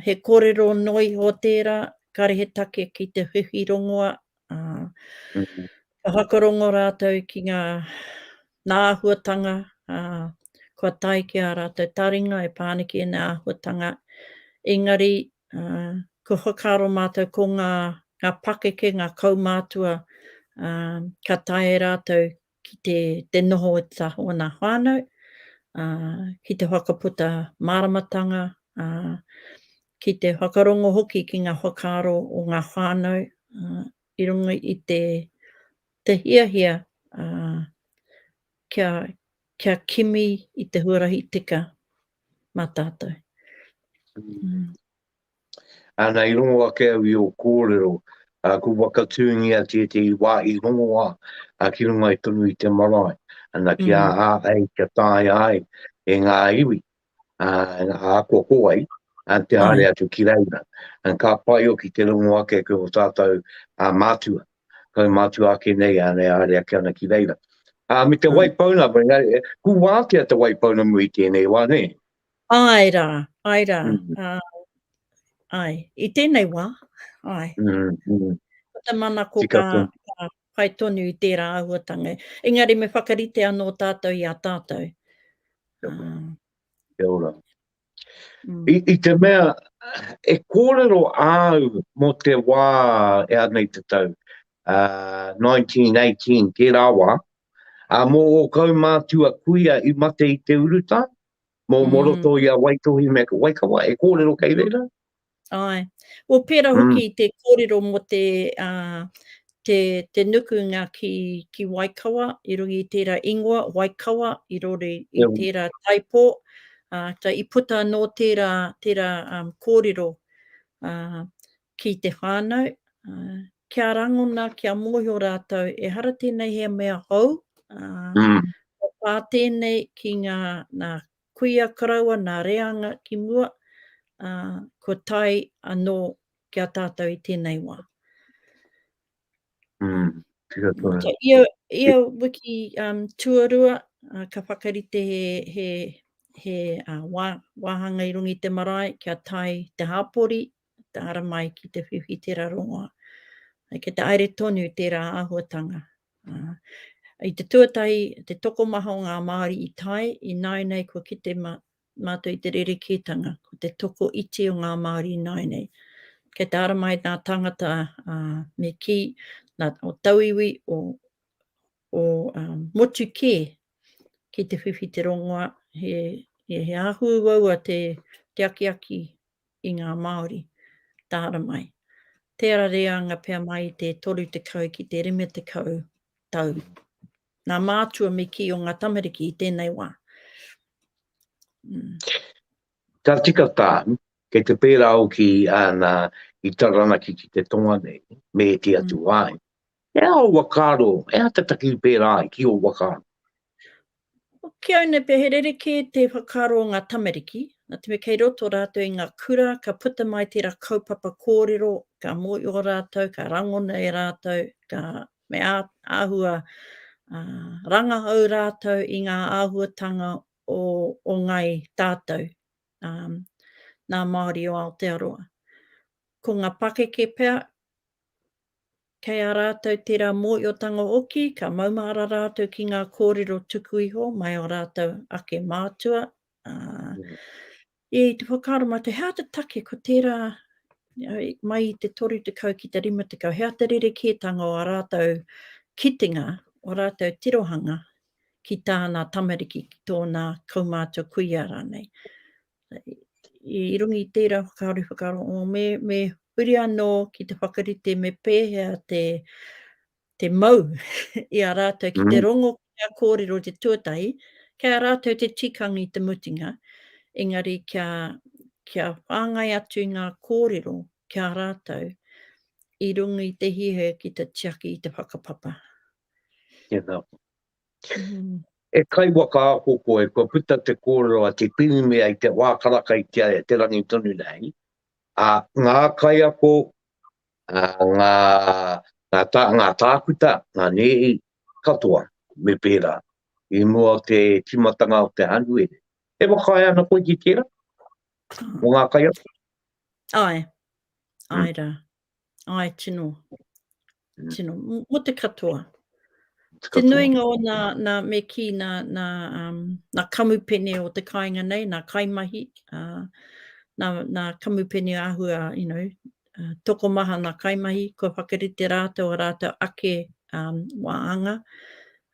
he kōrero noa iho tērā, kāre he take ki te whiwhi rongoa, ka whakarongo rātou ki ngā āhuatanga kua tae ki ā rātou taringa e pā ana ki ēnei āhuatanga, engari Kua whakaaro mātou ko ngā pakeke, ngā kaumātua ka taea e rātou ki te noho i te taha o ōna whānau, ki te whakaputa māramatanga, ki te whakarongo hoki ki ngā whakaaro o ngā whānau i runga i te hiahia kia, kia kimi i te huarahi tika mā tātou. Mm. Ana i rongo ake au i o kōrero, a, ku wakatūngia te te i wāhi rongoa a ki rungai tonu i te marae, ana ki mm. a ai kia tāia ai e ngā iwi, a ako ko ai, te haere atu ki reira. Ka pai oki te rongo ake ki o tātou a mātua, kau mātua ake nei a e haere ake ana ki reira. A me te wai pauna, ku wātea te wai pauna mu i tēnei wā, nē? Āe rā, āe rā, āe, i tēnei wā, āe. Ko te manako ka pai tonu i tērā āhuatanga. Engari me whakarite anō tātou i a tātou, Mm. Kia ora. Mm. I, I te mea, e kōrero āu mō te wā e anei te tau, uh, 1918, kē rāwa, a mō o kau mātua kuia i mate i te uruta, mō mm. moroto i a Waitohi me Waikawa, e kōrero kei reira? Ae. Well pera hoki mm. te kōrero mo te, uh, te, te nukunga ki, ki Waikawa, i rungi i tērā ingoa, Waikawa, i rori i yeah. tērā taipō. Uh, ta i puta anō tērā, tērā um, kōrero uh, ki te whānau. Uh, kia rangona, kia mōhio rātou, e hara tēnei he mea hou. Uh, mm. Pā tēnei ki ngā, nā, kuia karaua nā Reanga ki mua, ā, kua tae anō ki a tātou i tēnei wā. Nō te ia wiki tuarua, ka whakarite he wāhanga i runga i te marae kia tae te hapori Tāra mai ki te whiwhi tērā rongoā. Kei te aere tonu tērā āhuatanga. I te tuatahi, te tokomaha o ngā Māori i tae, i nāinei kua kite mātou i te rerekētanga, ko te toko iti o ngā Māori i nāinei. Kei tāra mai ngā tāngata me kī, nā, o tauiwi, o, o motu kē ki te whiwhi te rongoā, he, he, he āhuauaua te, te akiaki i ngā Māori, tāra mai. Tērā reanga pea mai i te 30 ki te 50 tau. Nā mātua me kī o ngā tamariki i tēnei wā. Ka tika tāu, kei te pērā au ki āna i Taranaki ki te tonga nei, me ēti atu wāhi. E aha o wakaaro? E aha te taki pērā ai ki o wakaaro? Ki au nei pea, he rerekē te whakaaro o ngā tamariki, nā te mea kei roto rātou i ngā kura, ka puta mai tērā kaupapa kōrero, ka mōhio rātou, ka rangona e rātou, ka, me āhua rangahau rātou i ngā āhuatanga o ngāi tātou, nā Māori o Aotearoa. Ko ngā pakeke pea, Kei a rātou tērā mōhiotanga hoki, ka maumahara rātou ki ngā kōrero tuku iho mai ō rātou ake mātua. E, i te whakaaro mātou, he āta take ko tērā mai i te 30 ki te 50, he āta rerekētanga o a rātou kitenga, o rātou tirohanga ki tāna tamariki, ki tōna kaumātua kuia rānei. I runga i tērā whakaari whakarongo, me huri anō ki te whakarite me pēhea te mau i a rātou ki te rongo ki ngā kōrero te tuatahi, kei a rātou te tikanga i te mutunga, engari kia whāngai atu i ngā kōrero ki a rātou i runga i te hiahia ki te tiaki i te whakapapa. Tēnā koe. E kaiwaka ako koe, kua puta te kōrero a Te Pirimia i te wā karaka i Te Aea, te rangi tonu nei, ā, ngā kaiako, ngā, ngā tākuta, ngā nēhi katoa me pērā i mua o te tīmatanga o te Hānuere. E whakaae ana koe ki tērā, mō ngā kaiako? Āe, āe rā. Ai, tino, mm. tino, mo te katoa. Te, te nuinga o na, na me ki na, na, um, na kamupene o te kainga nei, na kaimahi, uh, na, na kamupene ahua, you know, uh, toko maha na kaimahi, kua whakarite rātou a rātou ake um, wāanga.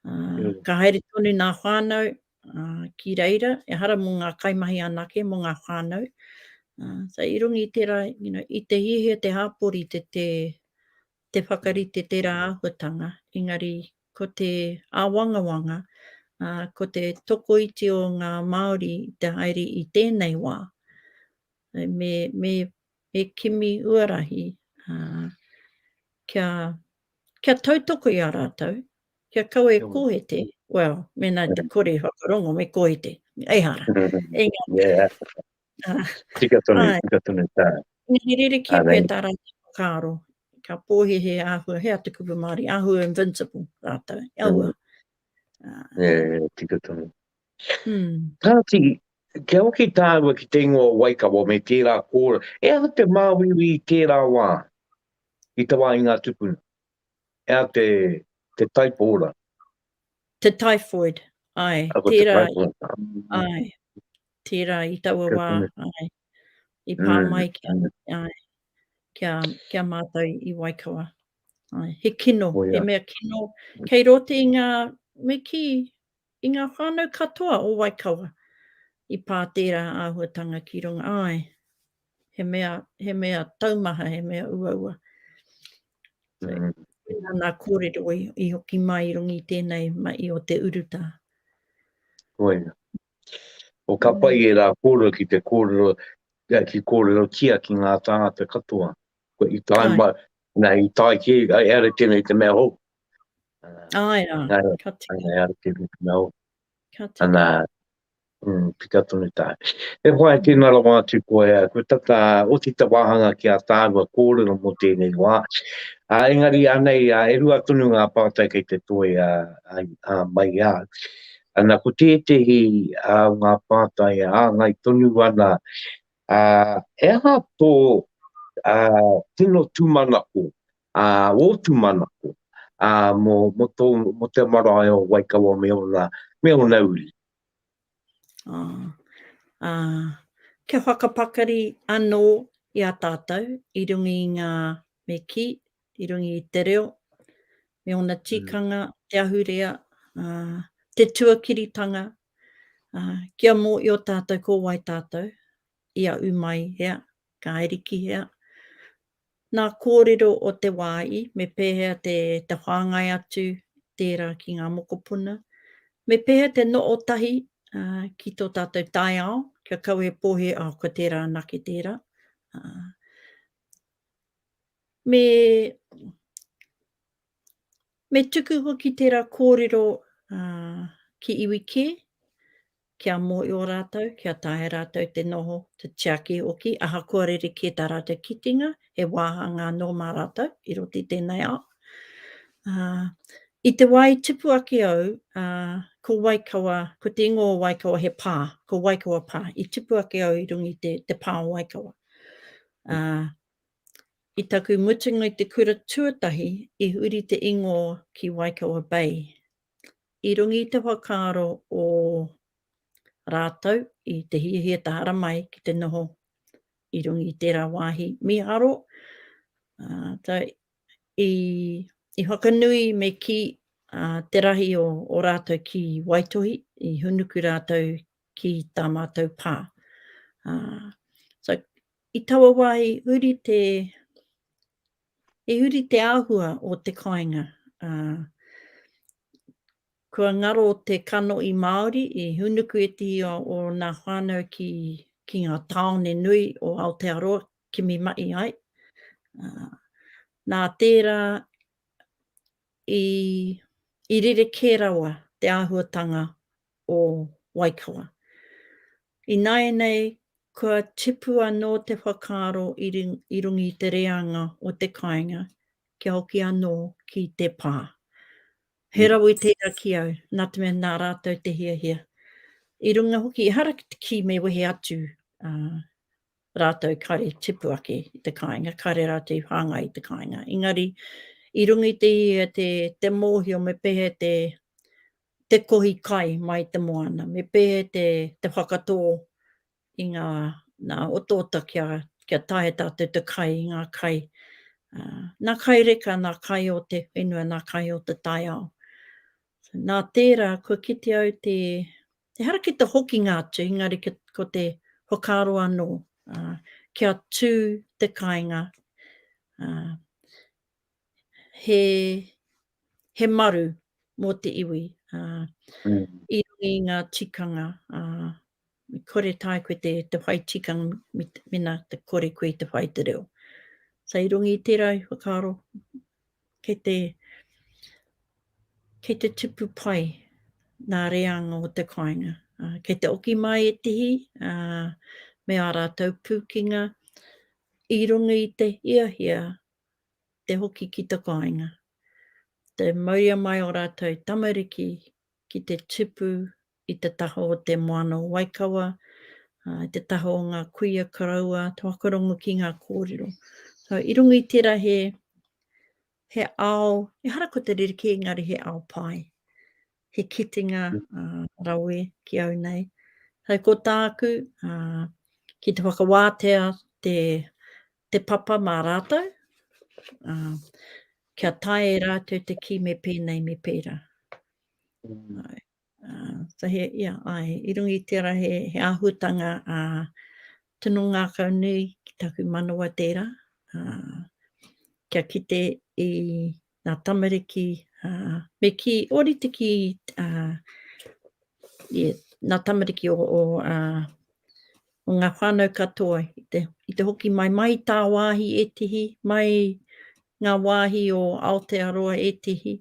Uh, mm. Ka haere tonu nā whānau, ā, ki reira, ehara mō ngā kaimahi anake, mō ngā whānau, ā, so i runga i tērā, you know, i te hiahia te hāpori te, te, te whakarite tērā āhuatanga, engari ko te āwangawanga, ā, ko te tokoiti o ngā Māori i te haere i tēnei wā, me, me, me kimi huarahi, ā, kia, Kia tautoko i a rātou, kia kaua e kōhete, well, mēnā te kore whakarongo me kōhete, ehara. Engari. Tika tonu, tika tonu tā. Engari rerekē koe tā rātou whakaaro, ka pōhē he āhua, he aha te kupu Māori, āhua invincible rātou, e aua. Tika tonu. Kāti, kia hoki tāua ki te ingoa o Waikawa me tērā kōrero, e aha te māuiui i tērā wā? i te wā i ngā tupuna. E a te, te taipo ora. Te typhoid, ai. A ko te Tērā, typhoid. ai. Tērā i taua wā, ai. I pā mai kia, ai, kia, kia mātou i Waikawa. Ai, he kino, he mea kino. Kei roto i ngā, me kī, I ngā whānau katoa o Waikawa i pā tērā āhuatanga ki runga, āe, he mea, he mea taumaha, he mea uaua. Tērā nā kōrero i hoki mai i runga i tēnei mahi o te urutā. Koia. O ka pai ērā kōrero ki te kōrero, ki kōrerotia ki ngā tāngata katoa. Ko i tae mai, nā, i tae ki, ai ara tēnei te mea hou. Ai rā, ka tika. Ai ara tēnei te mea hou. Ka tika. Anā, mm, tika tonu tā. E whai tēnā rawa atu koe, koe tata oti te wāhanga ki a tāua kōrero mō tēnei wā. Ā, engari anei, ā, e rua tonu ngā pātai kei te toe a, a, a mai a. Anā, ko tētehi a ngā pātai ā ngai tonu ana Ā, he aha tō, ā, tino tūmanako, ā, ō tūmanako, ā, mō, mō tō, mō te marae o Waikawa me ōna, me ōna uri? Ā, ā, kia whakapakari anō i a tātou i runga i ngā, me kī, I runga i te reo, me ōna tikanga, te ahurea, te tuakiritanga, kia mōhio tātou ko wai tātou, i a umai hea, ka ariki hea. Nā kōrero o te wā i, me pēhea te whāngai atu tērā ki ngā mokopuna, me pēhea te noho tahi ki tō tātou taiao, kia kaua e pōhē, oh, ko tērā anake tērā. Me me tuku hoki tera korero ki iwi ke, kia mohio ratou, kia taea ratou te noho, te tiaki hoki, ahakoa rerekē tā rātou kitenga, he wāhanga anō mā rātou i roto i tēnei ao. I te wā i tupu ake au, ko Waikawa, ko te ingoa o Waikawa he pā, ko Waikawa Pā. I tupu ake au i runga i te pā o Waikawa. I taku mutunga i te kura tuatahi i huri te ingoa ki Waikawa Bay. I runga i te whakaaro o ratou i te hiahia tahara mai ki te noho i runga i tera wahi miharo, i whakanui me ki te rahi o ratou ki Waitohi, i hunuku ratou ki ta matou pa. I taua wā i huri te, i huri te āhua o te kāinga, ā, kua ngaro te kanohi Māori i hūnuku ētehi o ōna whānau ki, ki ngā tāone nui o Aotearoa, kimi mahi ai. Ā, nā tērā i, i rerekē rawa te āhuatanga o Waikawa. Ināianei kua tipu anō te whakaaro i runga i te reanga o te kāinga kia hoki anō ki te pā. He rawe tērā ki au, nā te mea nā rātou te hiahia. I runga hoki, ehara ki me wehe atu rātou kare tipu ake i te kāinga, kare rātou i whāngai i te kāinga. Engari, i runga i te hiahia te mōhio me pēhea te te kohi kai mai te moana, me pehe te whakatō i ngā otaota kia taea tātou te kai i ngā kai, nā kai reka, nā kai o te whenua, nā kai o te taiao. Nā tērā, kua kite au ehara ki te hokinga atu, engari ko te whakaaro anō kia tū te kāinga he, he maru mō te iwi. Uh, mm. I rungi ngā tikanga, uh, me kore tae koe te, te whai tikanga, mena te kore koe te whai te reo. So i rungi i tērā i whakaaro, kei te, kei te tipu pai nā reanga o te kāinga. Uh, kei te oki mai e tihi, uh, me ā rātou pūkinga, i runga i te hiahia te hoki ki te kāinga. Te mauria mai o rātou tamariki ki te tipu i te taha o te moana o Waikawa, i te taha o ngā kuia karaua toakorongo ki ngā kōrero. So, i runga i tērā he, he ao, ehara ko te rerekē, engari he ao pai. He kitenga uh, rawe ki au nei. Hei ko tāku, uh, ki te whakawātea te te papa mā rātou, ā, kia taea e rātou te kī me pēnei, me pērā. Āe, ā, so he, ia, āe, i runga i tērā he, he āhuatanga, ā, tino ngākau nui ki taku manawa tērā, ā, kia kite i, Nga tamariki me ki orite ki nga tamariki o nga whanau katoa i te hoki mai mai i tawahi etihi mai nga wahi o Aotearoa etihi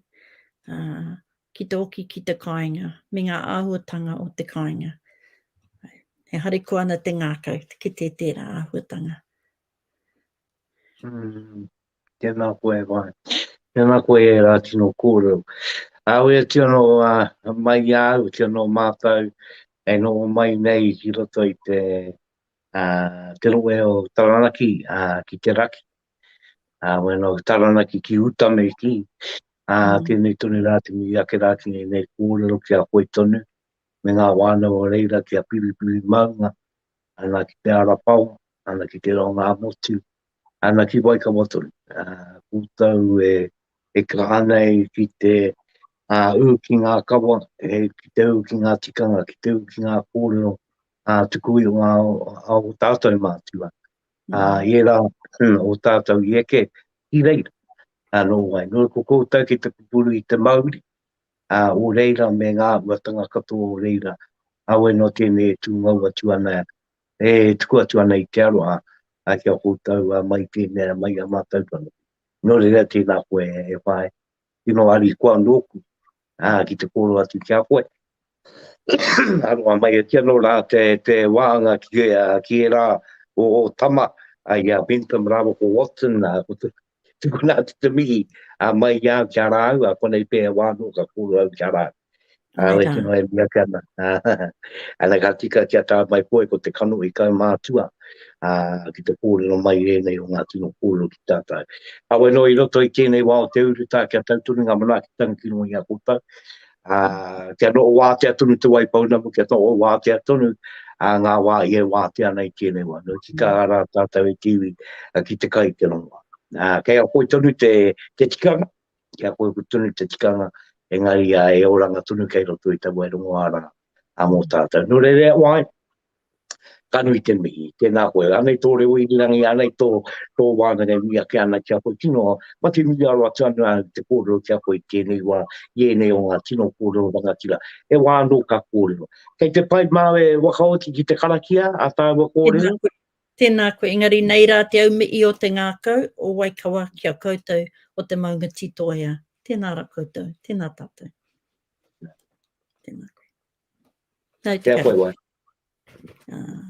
ki te oki ki te kainga me nga ahuatanga o te kainga. E harikoa ana te ngakau ki te tera ahuatanga. Tēnā koe e wai. Tēnā koe e rā tino kōrero. Auē kia noa mai i a au, kia noa mātou e noho mai nei ki roto i te te rohe o Taranaki ki te raki. Auē noa Taranaki ki uta me kī. Tēnei tonu rā te mihi ake rā ki ngēnei kōrero ki a koe tonu me ngā whānau o reira ki a Piripirimāunga, ana ki te Arapawa, ana ki te Rongāmotu, Ana ki Waikawa tonu. Koutou e kaha nei ki te ū ki ngā kawa, ki te ū ki ngā tikanga, ki te ū ki ngā kōrero tuku iho a ō tātou mātua. I ērā o tātou i eke ki reira. Nō wai, nō ko koutou ki te pupuru i te mauri o reira me ngā āhuatanga katoa o reira, kāore noa tēnei e tūngou atu ana E tuku atu ana i te aroha ki a koutou mai i tēnea, mai i a mātou tonu. Nō reira, tēnā koe e whaea, tino arikoa nōku ki te kōrero atu ki a koe. Aroha mai e tia nō rā te wāanga ki ērā o ō tama, i a Bentham rāua ko Watson, Tukuna atu te mihi a mai i au ki a rāu, a konei pēhea wā anō ka kōrua au ki a rāu. A oi tino e mia ki ana. Ana ka tika ki a tā mai koe ko te kano i kau mātua a, ki te kōrero mai i ēnei o ngā tino kōrero ki tātou. Awe noa i roto i tēnei wā o te urutā kia tautoru ngā manaaki tangi ki runga i a koutou. ā, kia noho wātea tonu te wai pounamu, kia noho wātea tonu ngā wā i e wātea ana i tēnei wā. Nō tika rā tātou e kiwi ki te kai i te rongoā. Ā, kei a koe tonu te, te tikanga, kei a koe tonu te tikanga, engari e oranga tonu kei roto i te wai rongoā rā mō tātou. Nō reira e wā ai, Ka nui te mihi, tēnā koe. Anei tō reo irirangi, anei tō, tō wānanga e nui ake ana ki a koe. Tino, ma te nui aro atu anu āu te kōrero ki a koe i tēnei wā, i ēnei o ngā tino kōrero rangatira. He wā anō ka kōrero. Kei te pai māu e wakaoti ki te karakia a tāua kōrero? Tēnā koe, tēnā koe. Engari nei rā te aumihi o te ngākau o Waikawa ki a koutou o te maunga Titoea. Tēnā ra koutou. Tēnā tātou. Tēnā koe. Tau te karakia. Tau te karakia. Ah.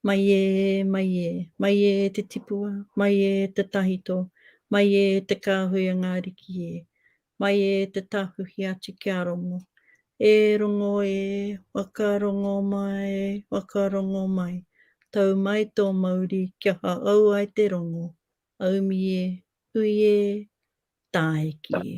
Mai e, mai e, mai e te tipua, mai e te tahito, mai e te kāhui a ngā riki e, mai e te tāwhiwhi atu ki a Rongo. E Rongo e, whakarongo mai, whakarongo mai, tau mai tō mauri kia whaau ai te rongo, aumi e, hui e, tāiki e.